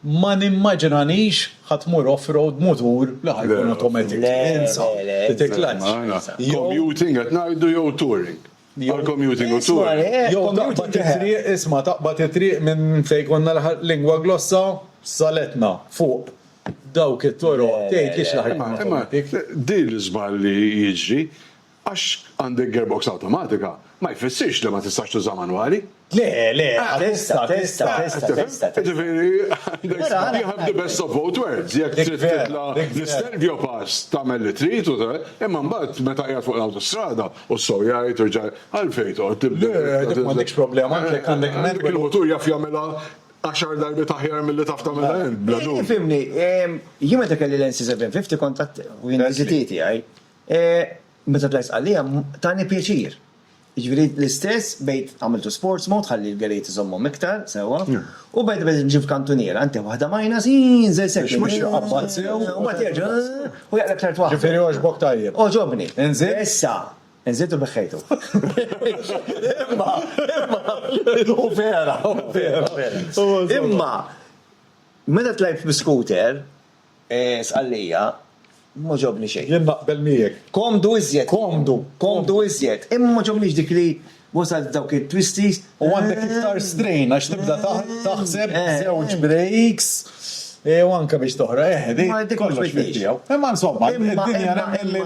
Ma nimmaġinanix ħa tmur off-road b'mutur li ħa jkun automatic. Insa, titi clutch. Commuting qed ngħidu jew touring? Għal commuting u touring. Jew taqbad it-triq, isma' taqbad it-triq minn fejn konna l-lingua glossa saletna fuq dawk it-toroq tgħidlix li ħa jkun automatic. Imma din l-iżball li jiġri Għax għandek gearbox awtomatika, ma jfissirx li ma tistax tuża manwali. Le, le, tista', tista', tista', tista'. Jiġifieri, you have the best of both worlds, jekk trid titla' l-Istelvio Pass tagħmel li trid u imma mbagħad meta qiegħed fuq l-awtostrada u s-sew jgħid u rġa' għalfejn toqgħod tibdel. Le, dik m'għandekx problema għax jekk għandek manwali. Dik il-mutur jaf jagħmilha għaxar darbiet aħjar milli taf tagħmilha int bla dubju. Tifhimni, jien meta kelli l-NC750 kont u jien l-NZT tiegħi, Meta tlajt Sqallija tani pjaċir. Jiġifieri l-istess bdejt għamilt u sports mode ħalli l-gelijiet iżommhom iktar sewwa u bdejt bdejt imxi f'kantuniera inti waħda minus iin żewġ seconds. Biex ma jqabbad sew. U mbagħad jerġa' u jaqleb tliet waħda. Jiġifieri għoġbok tajjeb. Għoġobni. Inżid? Issa inżid u beħħejtu. Imma imma u vera u vera. Imma meta tlajt bl-iskuter, Sqallija, M'għoġobni xejn. Jien naqbel miegħek. Komdu iżjed. Komdu. Komdu iżjed. Imma m'għoġobnix dik li wasalt dawk it-twisties. U għandek iktar strain għax tibda taħseb żewġ breaks u anke biex toħroq. Eħe, dik Ma dik kollox fih tiegħu. Imma insomma, id-dinja nemmen li.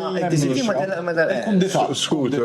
Il-kumdità. Skuter.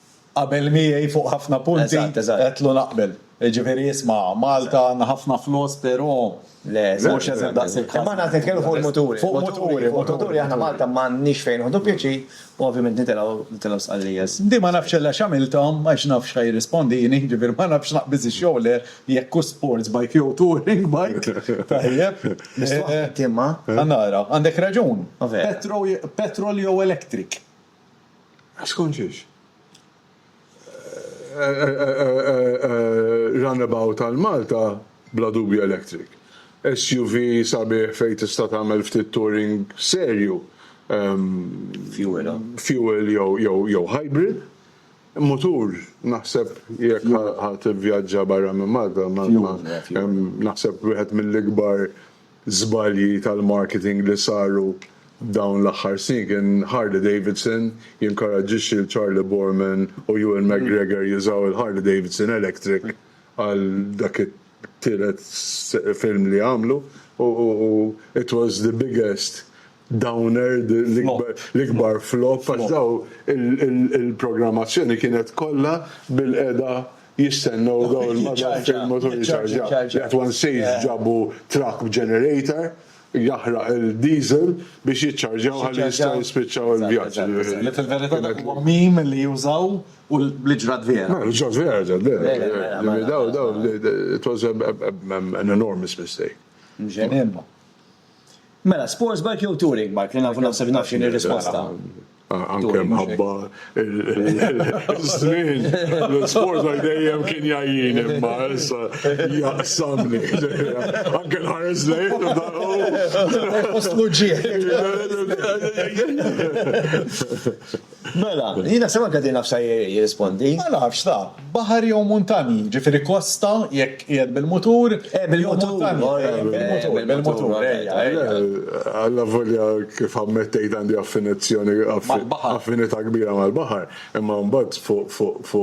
Qabel miegħi fuq ħafna punti. Eżatt, eżatt. Għedtlu naqbel. Jiġifieri isma', Malta għandna ħafna flus però mhux eżatt daqs il-każ. Imma aħna qed nitkellmu fuq il-muturi. Fuq il-muturi, fuq il-muturi aħna Malta m'għandniex fejn nieħdu pjaċir u ovvjament nitilgħu, nitilgħu Sqallija. Di ma nafx illa x'għamilthom għax naf x'ħa jirrispondini, jiġifieri ma nafx naqbiż ix-xogħler jekk hux sports bike jew touring bike. Tajjeb. Mistoqsi inti imma. Ħa nara. Għandek raġun. Petrol jew electric. Skont xiex? Runabout għal Malta bla dubju electric. SUV sabiħ fejn tista' tagħmel ftit touring serju. Fuel jew hybrid. Mutur naħseb jekk ħa tivvjaġġa barra minn Malta naħseb wieħed mill-ikbar żbalji tal-marketing li saru dawn l-aħħar snin kien Harley Davidson jinkoraġġixxi lil Charlie Boorman u Ewan McGregor jużaw il-Harley Davidson Electric għal dak it-tielet film li għamlu u it was the biggest Downerd l-ikbar flop għax daw il-programmazzjoni kienet kollha bilqiegħda jistennew daw il-madamen fejn il-mutur jiċċarġja. That one says ġabu truck b'generator jaħraq il-diesel biex jiċċarġjaw ħalli jistgħu jispiċċaw il-vjaġġ. Li fil-verità dak huwa meme li jużaw u li ġrat vera. Ma ġrat vera ġrat vera. Daw daw it was an enormous mistake. Mxejn ilma. Mela, sports bike jew touring bike? Li nafu naħseb naf x'inhi r-risposta. Anke mħabba l-żmien, l-sport għal dejjem kien jajjin imma issa jaqsamni. Anke l-ħares lejn u daru. Post muġġiet. Mela, jien naħseb anke din naf sa jirrispondi. Ma nafx, sa, baħar jew muntanji, jiġifieri kosta jekk qiegħed bil-mutur, jew muntanji, bil-mutur, bil-mutur, ejja, ejja. Allavolja kif ammettejt għandi affinizzjoni, affinità kbira mal-baħar, imma mbagħad fuq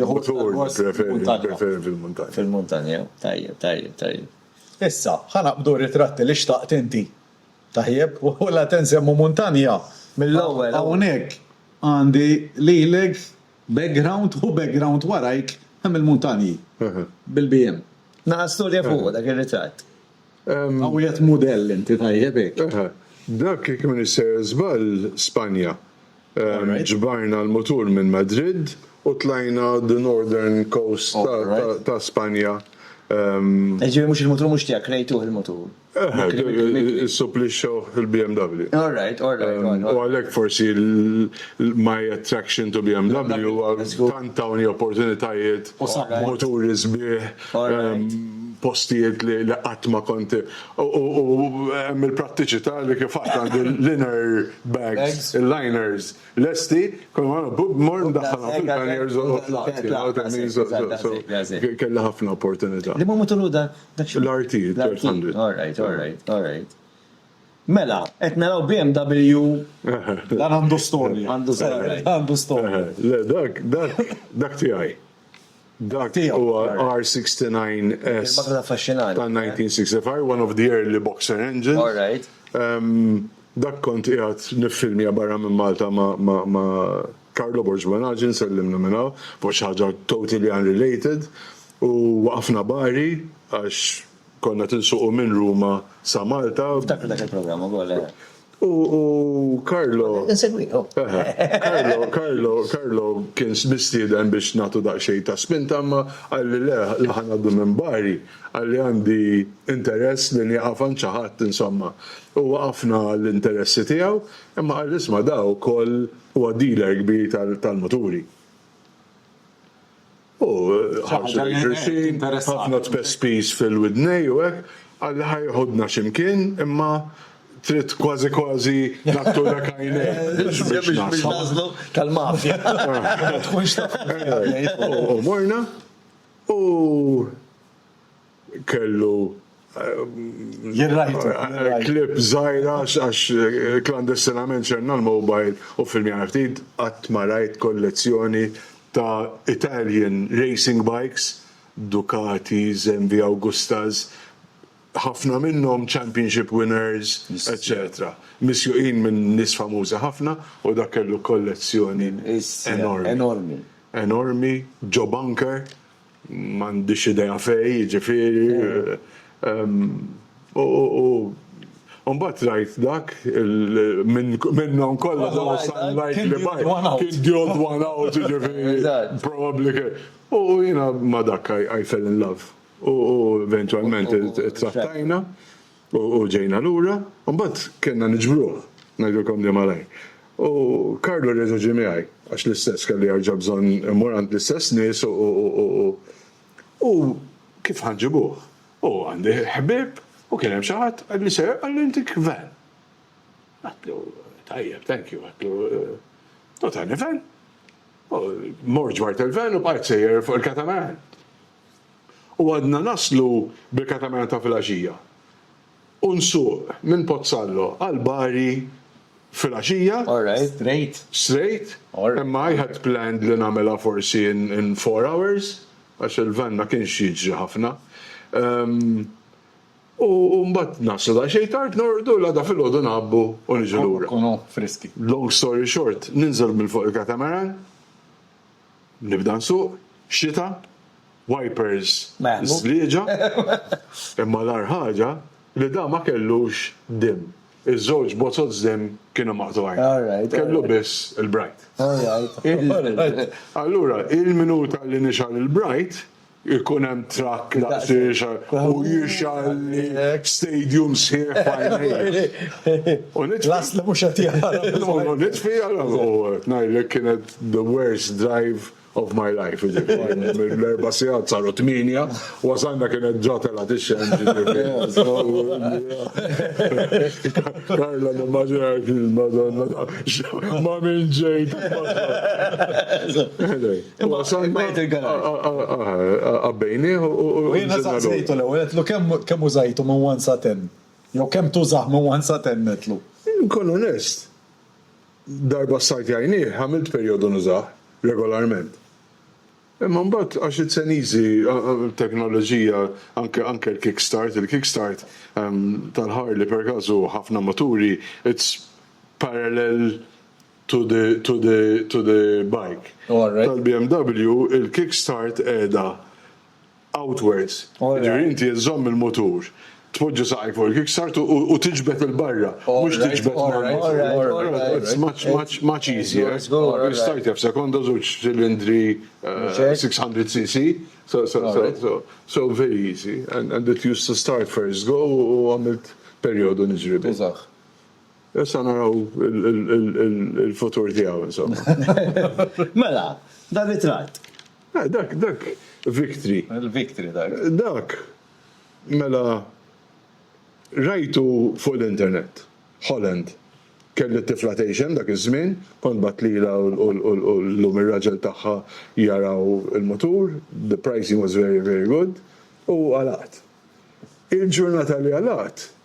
mutur nippreferi fil-muntanja. Fil-muntanja, tajjeb, tajjeb, tajjeb. Issa, ħa naqbdu r-ritratti li xtaqt inti. Tajjeb, u la te nsemmu muntanja mill-ewwel. Hawnhekk għandi lilek background u background warajk hemm il-muntanji bil-BM. Naqa' storja fuq dak ir-ritratt. Hawn qiegħed mudell inti tajjeb hekk. Dak jekk m'iniex ser żball Spanja. Ġbarna l-mutur minn Madrid u tlajna the northern coast ta' Spanja. Jiġifieri mhux il-mutur mhux tiegħek, krejtuh il-mutur. Issupplixxewh il-BMW. U għalhekk forsi my attraction to BMW huwa tant tawni opportunitajiet, muturi sbieħ, postijiet li qatt ma kont U hemm il-prattiċità li kif għad għandi l-inner bags, il-liners lesti, kull ma mmur ndaħħalhom fil-panniers u tlaqt. Kelli ħafna opportunità. Li ma matul dak? L-RT, l-R100. All right, all right, all right. Mela, qed naraw BMW. Dan għandu storja. Għandu storja. Għandu storja. Le, dak, dak, dak tiegħi. Dak huwa R69S tal-1965, one of the early boxer engines. Dak kont qiegħed niffilmja barra minn Malta ma' Carlo Borgmanazi, nsellimlu minn hawn, fuq xi ħaġa totally unrelated, u waqafna bari għax, Konna tinsuqu minn Ruma sa Malta. Niftakru dak il-programm ukoll, eh. U Carlo. Insegwi, oh. Carlo, Carlo, Carlo kien mistieden biex nagħtu daqsxejn ta' spinta imma qalli le la ħa ngħaddu minn Bari, qalli għandi interess li nieqaf għand xi ħadd insomma. U waqafna l-interessi tiegħu imma qal isma' da wkoll huwa dealer kbir tal-muturi. U ħarsu lejn xulxin, ħafna tpespis fil-widnej u hekk, qal li ħa jieħudna xi mkien imma trid kważi kważi nattulek għajnejk biex naslu. Biex naslu tal-mafja. Ma tkunx taf. U morna u kellu klip żgħira għax klandestinament xerna l-mobile u filmjana ftit qatt ma rajt kollezzjoni ta' Italian racing bikes, Ducatis, MV Augustas, ħafna minnhom championship winners, eċċetera. Misjuqin minn nies famużi ħafna u dak kellu kollezzjoni enormi. Enormi. Enormi. Joe Bunker, M'għandix idea fejn, jiġifieri. U mbagħad rajt dak minnhom kollha the one I liked li bajt kien the odd one out, jiġifieri probably kien. U jiena ma' dak I fell in love u eventwalment ittrattajna. U ġejna lura, u mbagħad kellna niġbruh, ngħidilkom li malajr. U Carlo reġa' ġie miegħi, għax l-istess kelli jerġa' bżonn immur għand l-istess nies u, u, u, u, u kif ħa nġibuh? U għandi ħbieb u kien hemm xi ħadd, għadni sejjer, qalli inti Gvern. Għedtlu, tajjeb, thank you, għedtlu, u tani van. U mort ġbart il-van u bqajt sejjer fuq il-katamaran. u għadna naslu bil-katamana ta' filgħaxija u nsuq minn Pozzallo għal Bari filgħaxija, straight, imma I had planned li nagħmilha forsi in four hours għax il-van ma kienx jiġri ħafna, u mbagħad naslu daqsxejn tard, norqdu, l-għada filgħodu ngħabbu u niġu lura. Long story short, ninżel minn fuq il-katamaran, Nibda nsuq, xita, wipers żlieġa, imma l-agħar ħaġa li da ma kellux dimm. Iż-żewġ bozoz dimm kienu maqtugħin. Kellu biss il-bright. Allura, il-minuta li nixgħal il-bright, Ikun hemm trakk daqsiex u jixgħalli stadium sħiħ f'għajnejh. L-asl mhux qed jaħrab. U nitfi allura u ngħidlek kienet the worst drive of my life jiġifieri mill-erba' sigħat saru tmienja, wasalna kienet ġa telgħet ix-xemx jiġifieri. Carlo nimmaġina l-film Madonna ma' min ġejt. Imma semma jgħid il-garaġ. Qabbejni u. U jiena saqsejtu l-ewwel qedlu kemm użajtu minn 1 sa 10? Jew kemm tużah minn 1 sa 10 qedlu? Inkun onest, darba ssajt jgħajnih għamilt perjodu nużah regolarment. Imma mbagħad għax iċ-Ċeniżi teknoloġija anke anke l-kickstart, il-kickstart tal-Harley perkaż hu ħafna muturi, it's parallel to the to the to the bike. Tal-BMW il-kickstart qiegħda outwards. Jiġifieri inti żżomm il-mutur, tpoġġi saqajk fuq il-kickstart u tiġbed 'il barra. Mhux tiġbed ma' it's much much much easier. Start jaf sekonda żewġ ċilindri 600 cc. So so so so very easy and it used to start first go u għamilt perjodu niġri bih. Issa naraw il-futur tiegħu insomma. Mela, dan ritratt. Eh, dak, dak, Victory. Il-Victory dak. Dak, mela, rajtu fuq l-internet, Holland. Kelli tifla tgħixem dak iż-żmien, kont batlila u llum ir-raġel tagħha jaraw il-mutur, the pricing was very, very good, u għalaqt. Il-ġurnata li għalaqt,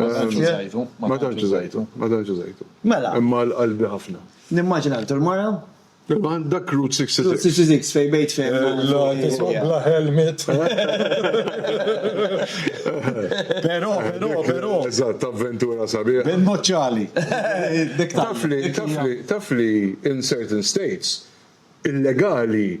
Ma tantx użajtu. Ma tantx użajtu. Ma tantx użajtu. Mela. Imma għal qalbi ħafna. Nimmaġina intu l-mara? Imma dak Route 66. Route 66 fejn bejt fejn. Bla helmet. Però, però, però. Eżatt, avventura sabiħ. Bin noċċali. Tafli, tafli, tafli in certain states illegali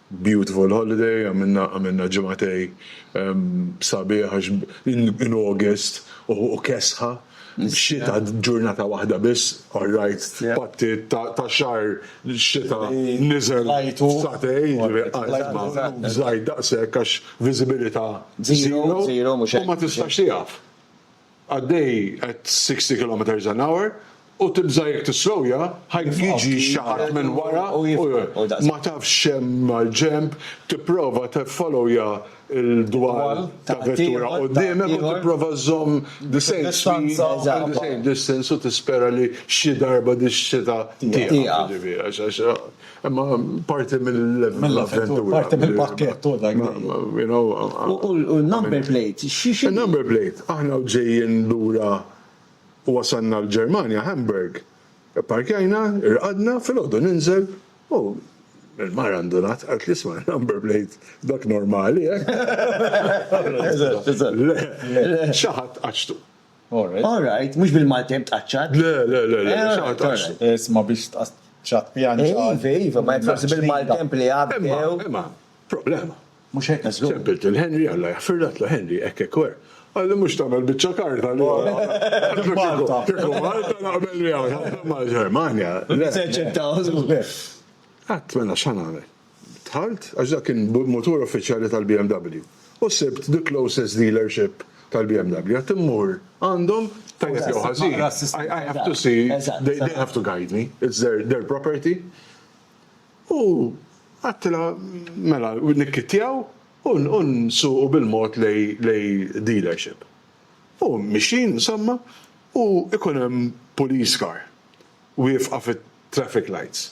Beautiful holiday, għamilna għamilna ġimgħatej sabiħ għax in August u kesħa, xita ġurnata waħda biss, all right, patti ta' xahar xita niżel satej, żgħir daqshekk għax viżibilità zero u ma tistax tieqaf. għaddej at 60 kilometres an hour u tibża' jekk tislowja ħajkun jiġi xi ħadd minn wara u jieqfek. Ma tafx x'hemm mal-ġenb, tipprova tiffollowja l-dwal ta' vettura quddiemek u tipprova żżomm the same speed and the same distance u tispera li xi darba dix-xita tieqaf jiġifieri għax. Imma parti mill-avventura. Parti mill-pakkett u dak. U l-number plate, xi xi. Number plate, aħna ġejjin lura u wasalna l-Ġermanja, Hamburg. Ipparkjajna, irqadna, filgħodu ninżel u l-mara ndunat, qaltli isma' number plate dak normali, eh? Eżatt, eżatt. Le, xi ħadd għaġtu. All right, mhux bil-Malti hemm tqaċċat. Le, le, le, le, xi ħaġa taqsmu. Isma' biex tqaċċat pjan xi ħaġa. Iva, iva, ma jekk forsi bil-maltemp li għaddew. Imma, problema. Mhux hekk għax. Sempiltu l-Henry, Alla jaħfirlek tlu Henry, hekk hekk wer. Għalli mhux tagħmel biċċa karta li. Malta. Malta naqbel miegħu, ma' Ġermanja. Se ċettaw. Qatt mela x'għan nagħmel. Dħalt, għax dak kien mutur uffiċjali tal-BMW, u sibt the closest dealership tal-BMW. Għedt immur għandhom, tajjeb jew ħażin, I have to see, they have to guide me, it's their property. U għedtilha, mela, nikkittjaw u nsuqu bil-mod lejn dealership. U mixjin, insomma, u jkun hemm police car wieqfa fit-traffic lights.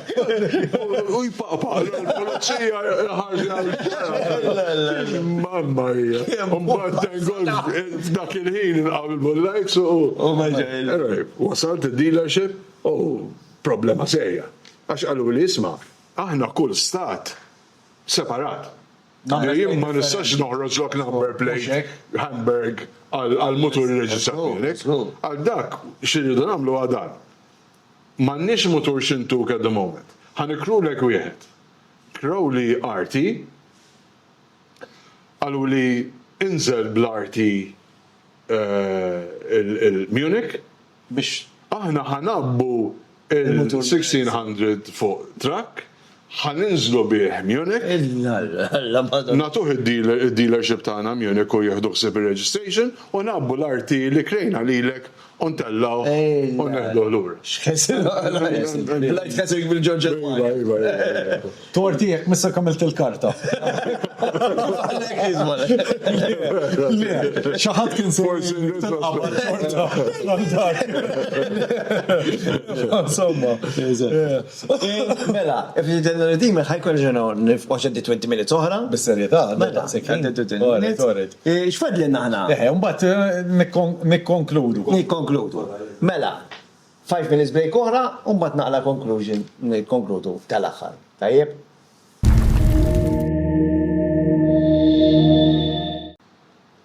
U jpaqpa, l-pulizija ħarġi għal-ġara. Mamma hija. Mbagħad tengol f'dak il-ħin inqaw il-bullajts u. U ma ġejl. Wasalt id-dealership u problema serja. Għax qaluli isma', aħna kull stat separat. Jien ma nistax noħroġlok number plate Hamburg għall-mutur irreġistrat miegħek. Għal dak x'irridu nagħmlu hu dan. M'għandniex mutur Shintook at the moment. Ħa nikrulek wieħed. Crowley arti, qaluli inżel bl-arti il-Munich biex aħna ħa ngħabbu il-1600 fuq truck. Ħa ninżlu bih Munich. Nagħtuh id-dealership tagħna Munich u jieħdu ħsieb ir-registration u ngħabbu l-RT li krejna lilek u ntellgħuh u neħduh lura. Light catering bil-Georgia Park. Torti jekk missek għamilt il-karta. Xi ħadd kien se jinqabad. Insomma. Mela, f'dan ir-Redeemer ħa jkollna ġurnata oħra, nifqgħu x'għaddit 20 minutes oħra. Bis-serjetà, għaddit daqshekk ħin. Għaddit 20 minutes. Orit, orit. X'fadlilna aħna? Eħe, u mbagħad nikkonkludu. Nikkonkludu. Mela, five minutes break oħra u mbagħad naqra conclusion, nikkonkludu tal-aħħar. Tajjeb?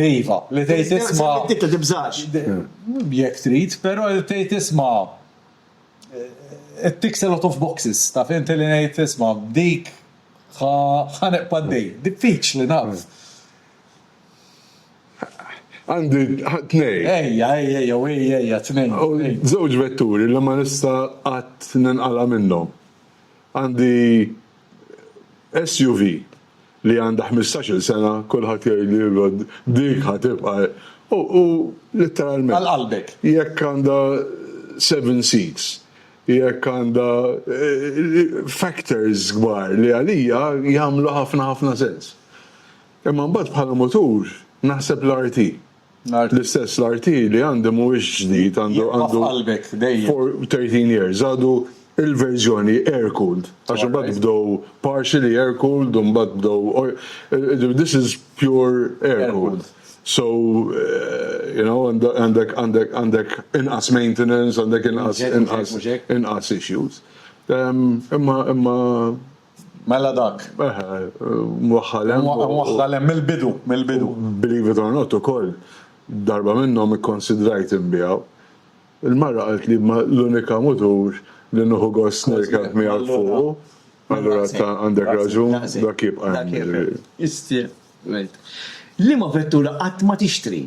Iva, li tgħid isma'. Semmejtitha, tibżax. Jekk trid, però li tgħid isma' it ticks a lot of boxes, taf inti li ngħid isma' b'dik ħa nibqa' għaddej. Diffiċli naf. Għandi tnejn. Ejja, ejja, ejja, u ejja, ejja, tnejn. Żewġ vetturi li ma nista' qatt ninqala' minnhom. Għandi SUV li għandha ħmistax-il sena kulħadd jgħidli Rod dik ħa tibqa' u litteralment. Għal qalbek. Jekk għandha seven seats, jekk għandha factors kbar li għalija jagħmlu ħafna ħafna sens. Imma mbagħad bħala mutur naħseb l-RT. L-istess l-RT li għandi mhuwiex ġdid, għandu għandu 13 years, għadu il-verżjoni air-cooled, għax imbagħad bdew partially air-cooled u mbagħad bdew this is pure air-cooled. So, you know, għandek għandek għandek inqas maintenance, għandek inqas inqas inqas issues. Imma imma Mela dak. Eħe, mwaħħal hemm. Mwaħħal hemm mill-bidu, mill-bidu. Believe it or not ukoll, darba minnhom ikkonsidrajt inbiegħu. Il-mara qalt li ma l-unika mutur li nieħu gost nirkeb miegħek fuqu, allura ta' għandek raġun, dak jibqa' hemm. Dak jibqa' hemm. Issa, għidt. Liema vettura qatt ma tixtri?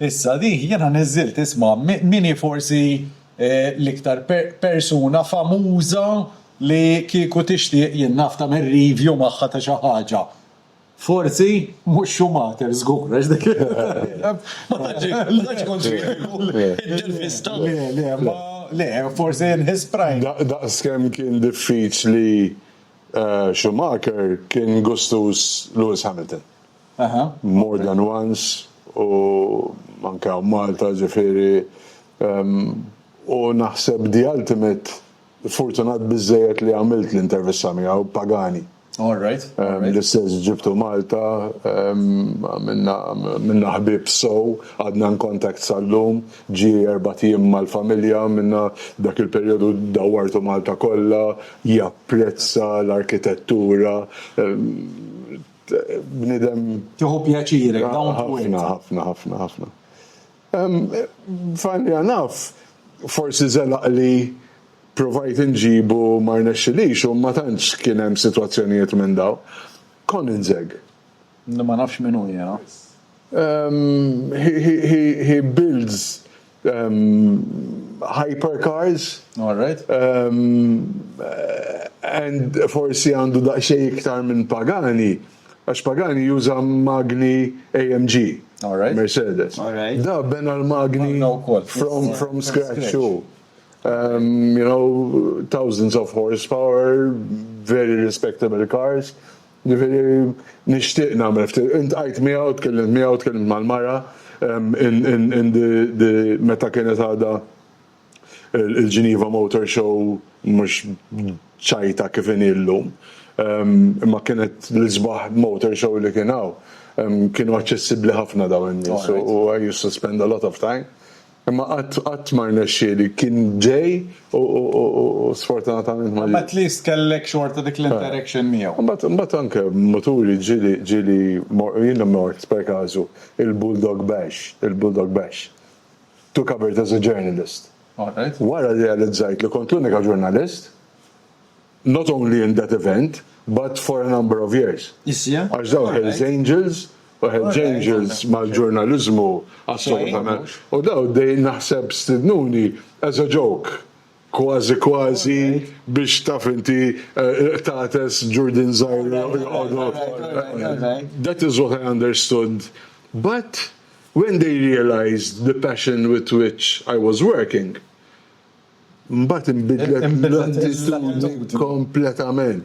Issa di jiena niżżilt ismha, min hi forsi l-iktar persuna famuża li kieku tixtieq jien naf tagħmel review magħha ta' xi ħaġa? Forsi mhux Schumacher żgur għax dik ma tantx ikun kritiku. Intervista. Le, le, ma le, forsi in his prime. Daqskemm kien diffiċli Schumacher kien gustuż Lewis Hamilton. more than once u anke hawn Malta ġifieri u naħseb the ultimate fortunat biżżejjed li għamilt l-intervista miegħu Pagani. L-istess ġibtu Malta għamilna ħbieb sew għadna in contact sal-lum ġie erbat jiem mal-familja għamilna dak il-perjodu dawwartu Malta kollha japprezza l-arkitettura bnidem. Tieħu pjaċirek, ah, down to earth. Ħafna, ħafna, ħafna. Fanni għanaf, forsi zelaq li provajt nġibu mar nexxilix u ma tantx kien hemm sitwazzjonijiet minn daw. Kon inżeg. Ma nafx minn hu jena. He builds hypercars. All right. And forsi għandu daqsxejn iktar minn Pagani, għax Pagani juża magni AMG. All right. Mercedes. All right. Da bena l-magni from, from scratch too. Um, you know, thousands of horsepower, very respectable cars. Ġifieri nixtieq nagħmel ftit, intqajt miegħu, tkellimt miegħu, tkellimt mal-mara meta kienet għadha il-Geneva Motor Show mhux ċajta kif inhi llum. Imma kienet l-isbaħ motor show li kien hawn. Kienu aċċessibbli ħafna dawn in-nies u I used to spend a lot of time. Imma qatt qatt ma rnexxieli, kien ġej u sfortunatament ma. Imma at least kellek xorta dik l-interaction miegħu. Imbagħad imbagħad anke maturi ġieli ġieli mor jiena mort per każu il-Bulldog Bash, il-Bulldog Bash, to cover it as a journalist. Alright. Wara rrealizzajt li kont l-unika ġurnalist not only in that event but for a number of years. Għax dawn Hell's Angels u Hell's Angels mal-ġurnaliżmu assolutament. U dawn dejjem naħseb stidnuni as a joke, kważi kważi biex taf inti qtates Ġurdin Żgħir joqogħdu. That is what I understood but when they realised the passion with which I was working, Mbagħad inbidlet l-attitudni kompletament.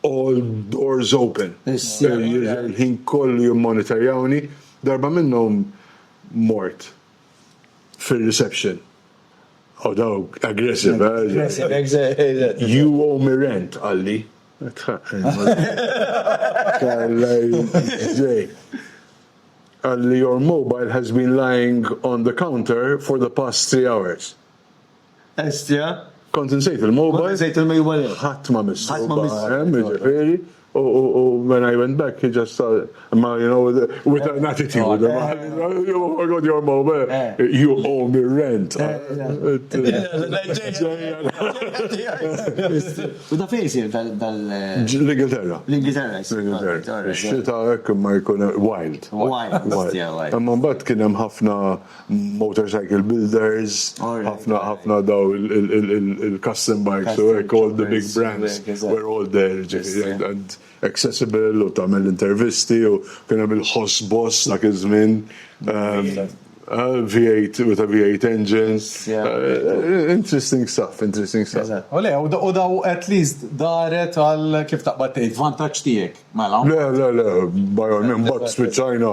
All doors open. Il-ħin kollu jimmonitorjawni. Darba minnhom mort fir-reception. U dawk aggressive, eh? You owe me rent, qalli. Tħaqqni. Kalla jżej. qalli your mobile has been lying on the counter for the past three hours. Estja. Kont insejt il-mobile. Kont insejt il-mobile. Ħadd ma missu. Ħadd ma missu. Hemm, jiġifieri. U when I went back, he just saw, ma, you know, with an attitude. Oh my God, your mobile. You owe me rent. U ta' fejn isir dal. L-Ingilterra. L-Ingilterra isir. L-Ingilterra. Ix-xita hekk ma jkun wild. Wild. Wild. Imma mbagħad kien hemm ħafna motorcycle builders, ħafna ħafna daw il-custom bikes u hekk all the big brands were all there ġifieri. accessible u tagħmel intervisti u kien hemm il-Ħoss Boss dak iż-żmien. V8 with a V8 engine. Interesting stuff, interesting stuff. U le, u daw at least daret għal kif taqbad tgħid vantaġġ tiegħek, mela. Le, le, le, by all means, mbagħad spiċċajna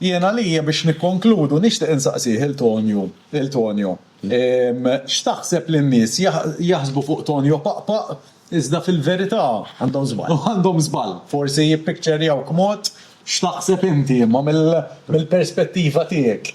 Jien għalija biex nikkonkludu nixtieq insaqsih il Tonju, lil Tonio, x'taħseb li n-nies jaħsbu fuq Tonio Paqpaq iżda fil-verità. Għandhom żball. Għandhom żball. Forsi jippikċerjawk mod, x'taħseb inti imma mill-perspettiva tiegħek?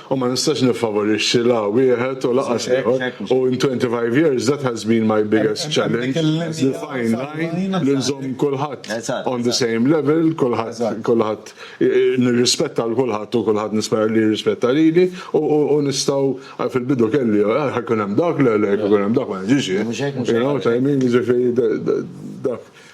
U ma nistax niffavorixxi la wieħed u laqas l-ieħor. U in 25 years that has been my biggest challenge, the fine line li nżomm kulħadd on the same level, kulħadd nirrispetta lil kulħadd u kulħadd nispera li jirrispetta lili u nistgħu fil-bidu kelli ħa jkun hemm dak, le le jekk ikun hemm dak ma niġix jien. You know what I mean? Jiġifieri dak.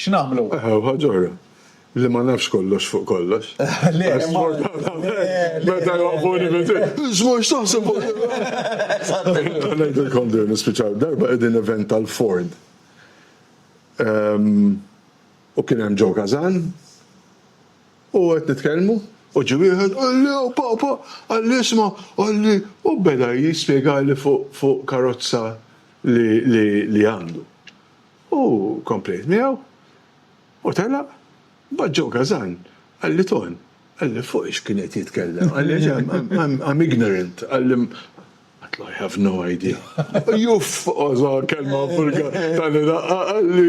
X'nagħmlu? Aha, u ħaġa oħra, li ma nafx kollox fuq kollox. Le, Għax ma- sfortunatament, meta jwaqfuni minn triq, Żmur x'taħseb fuq Ngħidilkom din nispiċaw darba qegħdin event tal-Ford. Ehm, U kien hemm Joe Kazan u qed nitkellmu u ġie wieħed qalli "Oh, papa, qalli isma' qalli u beda jispjegali fuq fuq karozza li li li għandu. U komplejt miegħu u telaq. Mbagħad Joe Gazan qalli Ton, qalli fuq x'kien qed jitkellem, qalli I'm ignorant, qalli Għedtlu I have no idea. Uff! Oża kelma Vulgar tani daqqa qalli.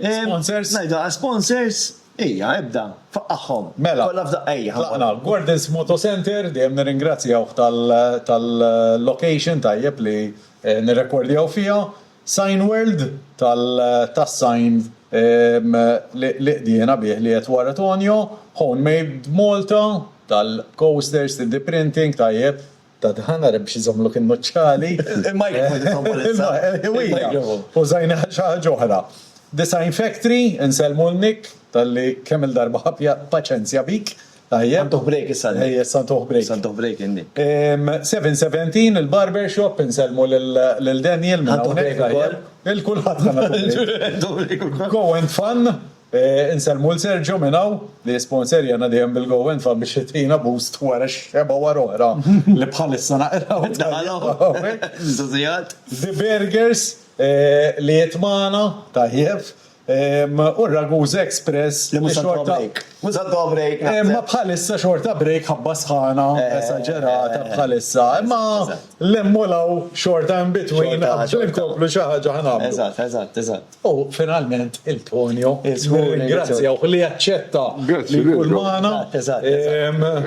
Sponsors? Ngħidha għal sponsors? Ejja, ibda, faqqagħhom. Mela. Kollha f'daqqa ejja. Tlaqna. Gordon's Moto Centre, dejjem nirringrazzjawh tal-location tajjeb li nirrekordjaw fiha. Sign World tas-sign li qdiena bih li qiegħed wara Tonio. Home Made Malta tal-coasters, 3D printing tajjeb. ta' dħan, ara biex iżommlok in-nuċċali. Il-microwave il-frigorifera. Il-ħiwija. Użajniha xi ħaġa oħra. Design Factory, insellmu lil Nick talli kemm il-darba ħa paċenzja bik. Tajjeb. Ħa ntuh break issa Nick. Ejja issa ntuh break. Issa ntuh break lil Nick. 717 il-barber shop, insellmu lil Daniel minn hawnhekk. Ħa ntuh break ukoll. Lil kulħadd ħa nagħtuh break. Go and Fun. Insellmu 'l Sergio minn hawn li jisponserjana dejjem bil-Go and Fun biex jtina boost wara x-xebgħa wara oħra li bħalissa naqra Żżżjat. The Burgers li qiegħed magħna, tajjeb, u r-Ragusa Express li mhux se tħobb break. Mhux se tħobb break naħseb. Imma bħalissa xorta break ħabba sħana esaġerata bħalissa. Imma lemmu 'l hawn xorta in between qabel inkomplu xi ħaġa ħa nagħmlu. Eżatt, eżatt, eżatt. U finalment il-Tonio, nirringrazzjawh li aċċetta li jkun magħna.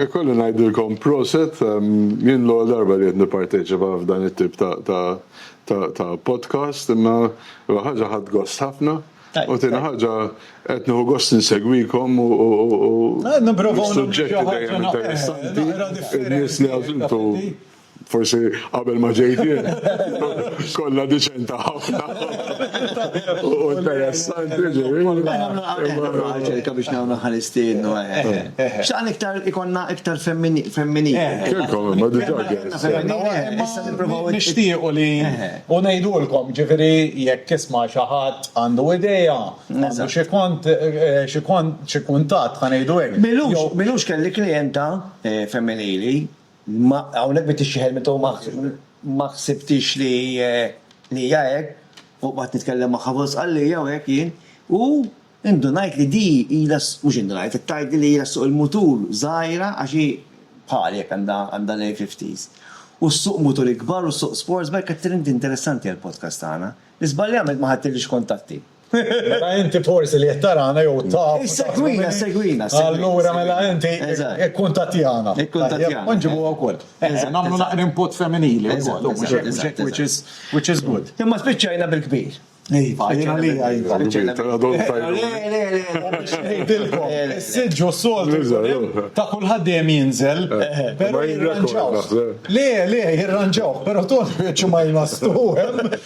Ikolli ngħidilkom proset, jien l-ewwel darba li qed nipparteċipa f'dan it-tip ta' podcast, imma l-ewwel ħaġa ħadt gost ħafna, u t-tieni ħaġa qed nieħu gost insegwikom u s-suġġetti dejjem interessanti, in-nies li għażiltu. Forsi qabel ma ġejt jien kollha diċenta ħafna u interessanti ġifieri. Ċerka biex nagħmlu ħa nistiednu. X'għan iktar ikollna iktar femminili. Kellkom imma diġà guests. Nixtiequ li u ngħidulkom ġifieri jekk jisma' xi ħadd għandu idea, għandu xi kont xi kont xi kuntatt ħa ngħidu hekk. Milux kelli klijenta femminili. Ma hawnhekk bdiet tixxieħel minn taw ma ħsibtix li li hija hekk, u qgħadt nitkellem magħha fuq l-Isqallija u hekk jien, u indunajt li di ilha mhux indunajt, qed tgħidli li ilha ssuq il-mutur żgħira għax hi bħali hekk għandha għandha l-early fifties. U ssuq muturi kbar u ssuq sportsbike qed tgħidli inti interessanti għall-podcast tagħna. Iżbalja għamilt ma ħadtilix kuntatti. Mela inti forsi li qed tarana jew taf. Issegwina, segwina. Allura mela inti ikkuntattjana. Ikkuntattjana. U nġibuha wkoll. Nagħmlu naqra input femminili wkoll, u mhux hekk, which is good. Imma spiċċajna bil-kbir. Iva, jiena li iva. Spiċċajna bil-kbir. Le, le, le. Ngħidilkom, is-siġġu s-soltu ta' kulħadd dejjem jinżel, però jirranġawh. Le, le, jirranġawh, però toni biċċi ma jmastux.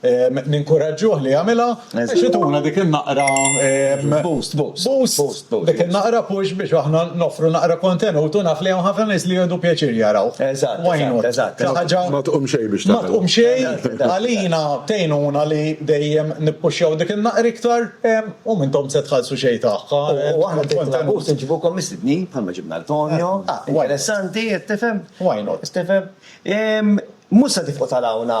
Ninkuraġġuh li jagħmilha. Biex ituna dik in-naqra boost, boost, dik in-naqra push biex aħna noffru naqra kontenut u naf li hawn ħafna nies li jieħdu pjaċir jaraw. Eżatt, eżatt, eżatt. Ma tqum xejn biex tagħmel. Ma tqum xejn. Għalina tgħinuna li dejjem nippuxxjaw dik in-naqra iktar u m'intom se tħallsu xejn tagħha. U aħna bdejna nagħmlu boost inġibukom mistednin bħalma ġibna lil Tonio. Interessanti, qed tifhem? Why not? Qed tifhem? Mhux se tifqu tarawna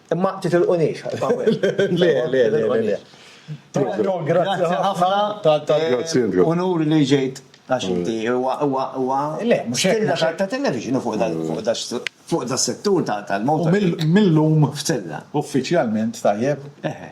Imma titilqunix. Le, le, le, le. Tonio, grazzi ħafna. Grazzi, Andrew. Unur li ġejt għax inti huwa huwa huwa. Le, mhux hekk. Stilla ta' ta' television fuq dal fuq da fuq da settur ta' tal-motor. Mill-lum. Stilla. Uffiċjalment tajjeb. Eħe.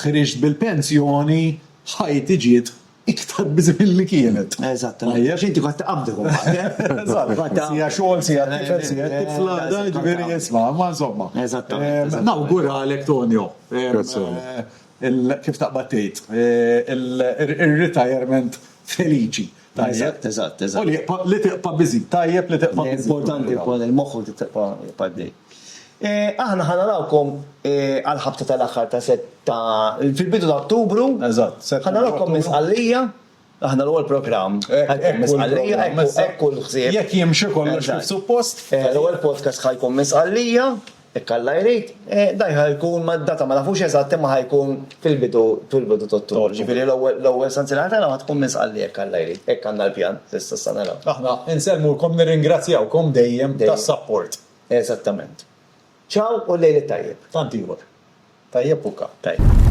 Ħriġt bil-pensjoni, ħajti ġiet iktar biżi' milli kienet. Eżatt, għax inti kont tqabbdek imbagħad. Siegħa xogħol, siegħa tifel, siegħa tifla, jiġifieri isma', imma insomma. Eżattament. Nawguralek Tonio. Grazzi. Kif taqbad tgħid, ir-ritajerment feliċi. Tajjeb, eżatt, eżatt. U li jibqa' li tibqa' busy, tajjeb li tibqa' busy. Importanti wkoll il-moħħ li tibqa' għaddej. Aħna ħa narawkom għall-ħabta tal-aħħar ta' Sett ta' fil-bidu ta' Ottubru. Eżatt, Sett. Ħa narawkom minn Sqallija, aħna l-ewwel programm. Hekk minn Sqallija, hekk hu l-ħsieb. Jekk jimxi kollox kif suppost. L-ewwel podcast ħa jkun minn Sqallija. Jekk Alla jrid, dan ħa jkun ma' data ma nafux eżatt imma ħa jkun fil-bidu fil-bidu t'Ottubru. Ġifieri l-ewwel l-ewwel sanzjera tagħna ħa tkun minn Sqallija jekk Alla jrid. Hekk għandna l-pjan s'issa sa naraw. Aħna insellmulkom nirringrazzjawkom dejjem tas-sapport. Eżattament. Ciao u l-lejl it-tajjeb. Tant ieħor. Tajjeb u ka. Tajjeb.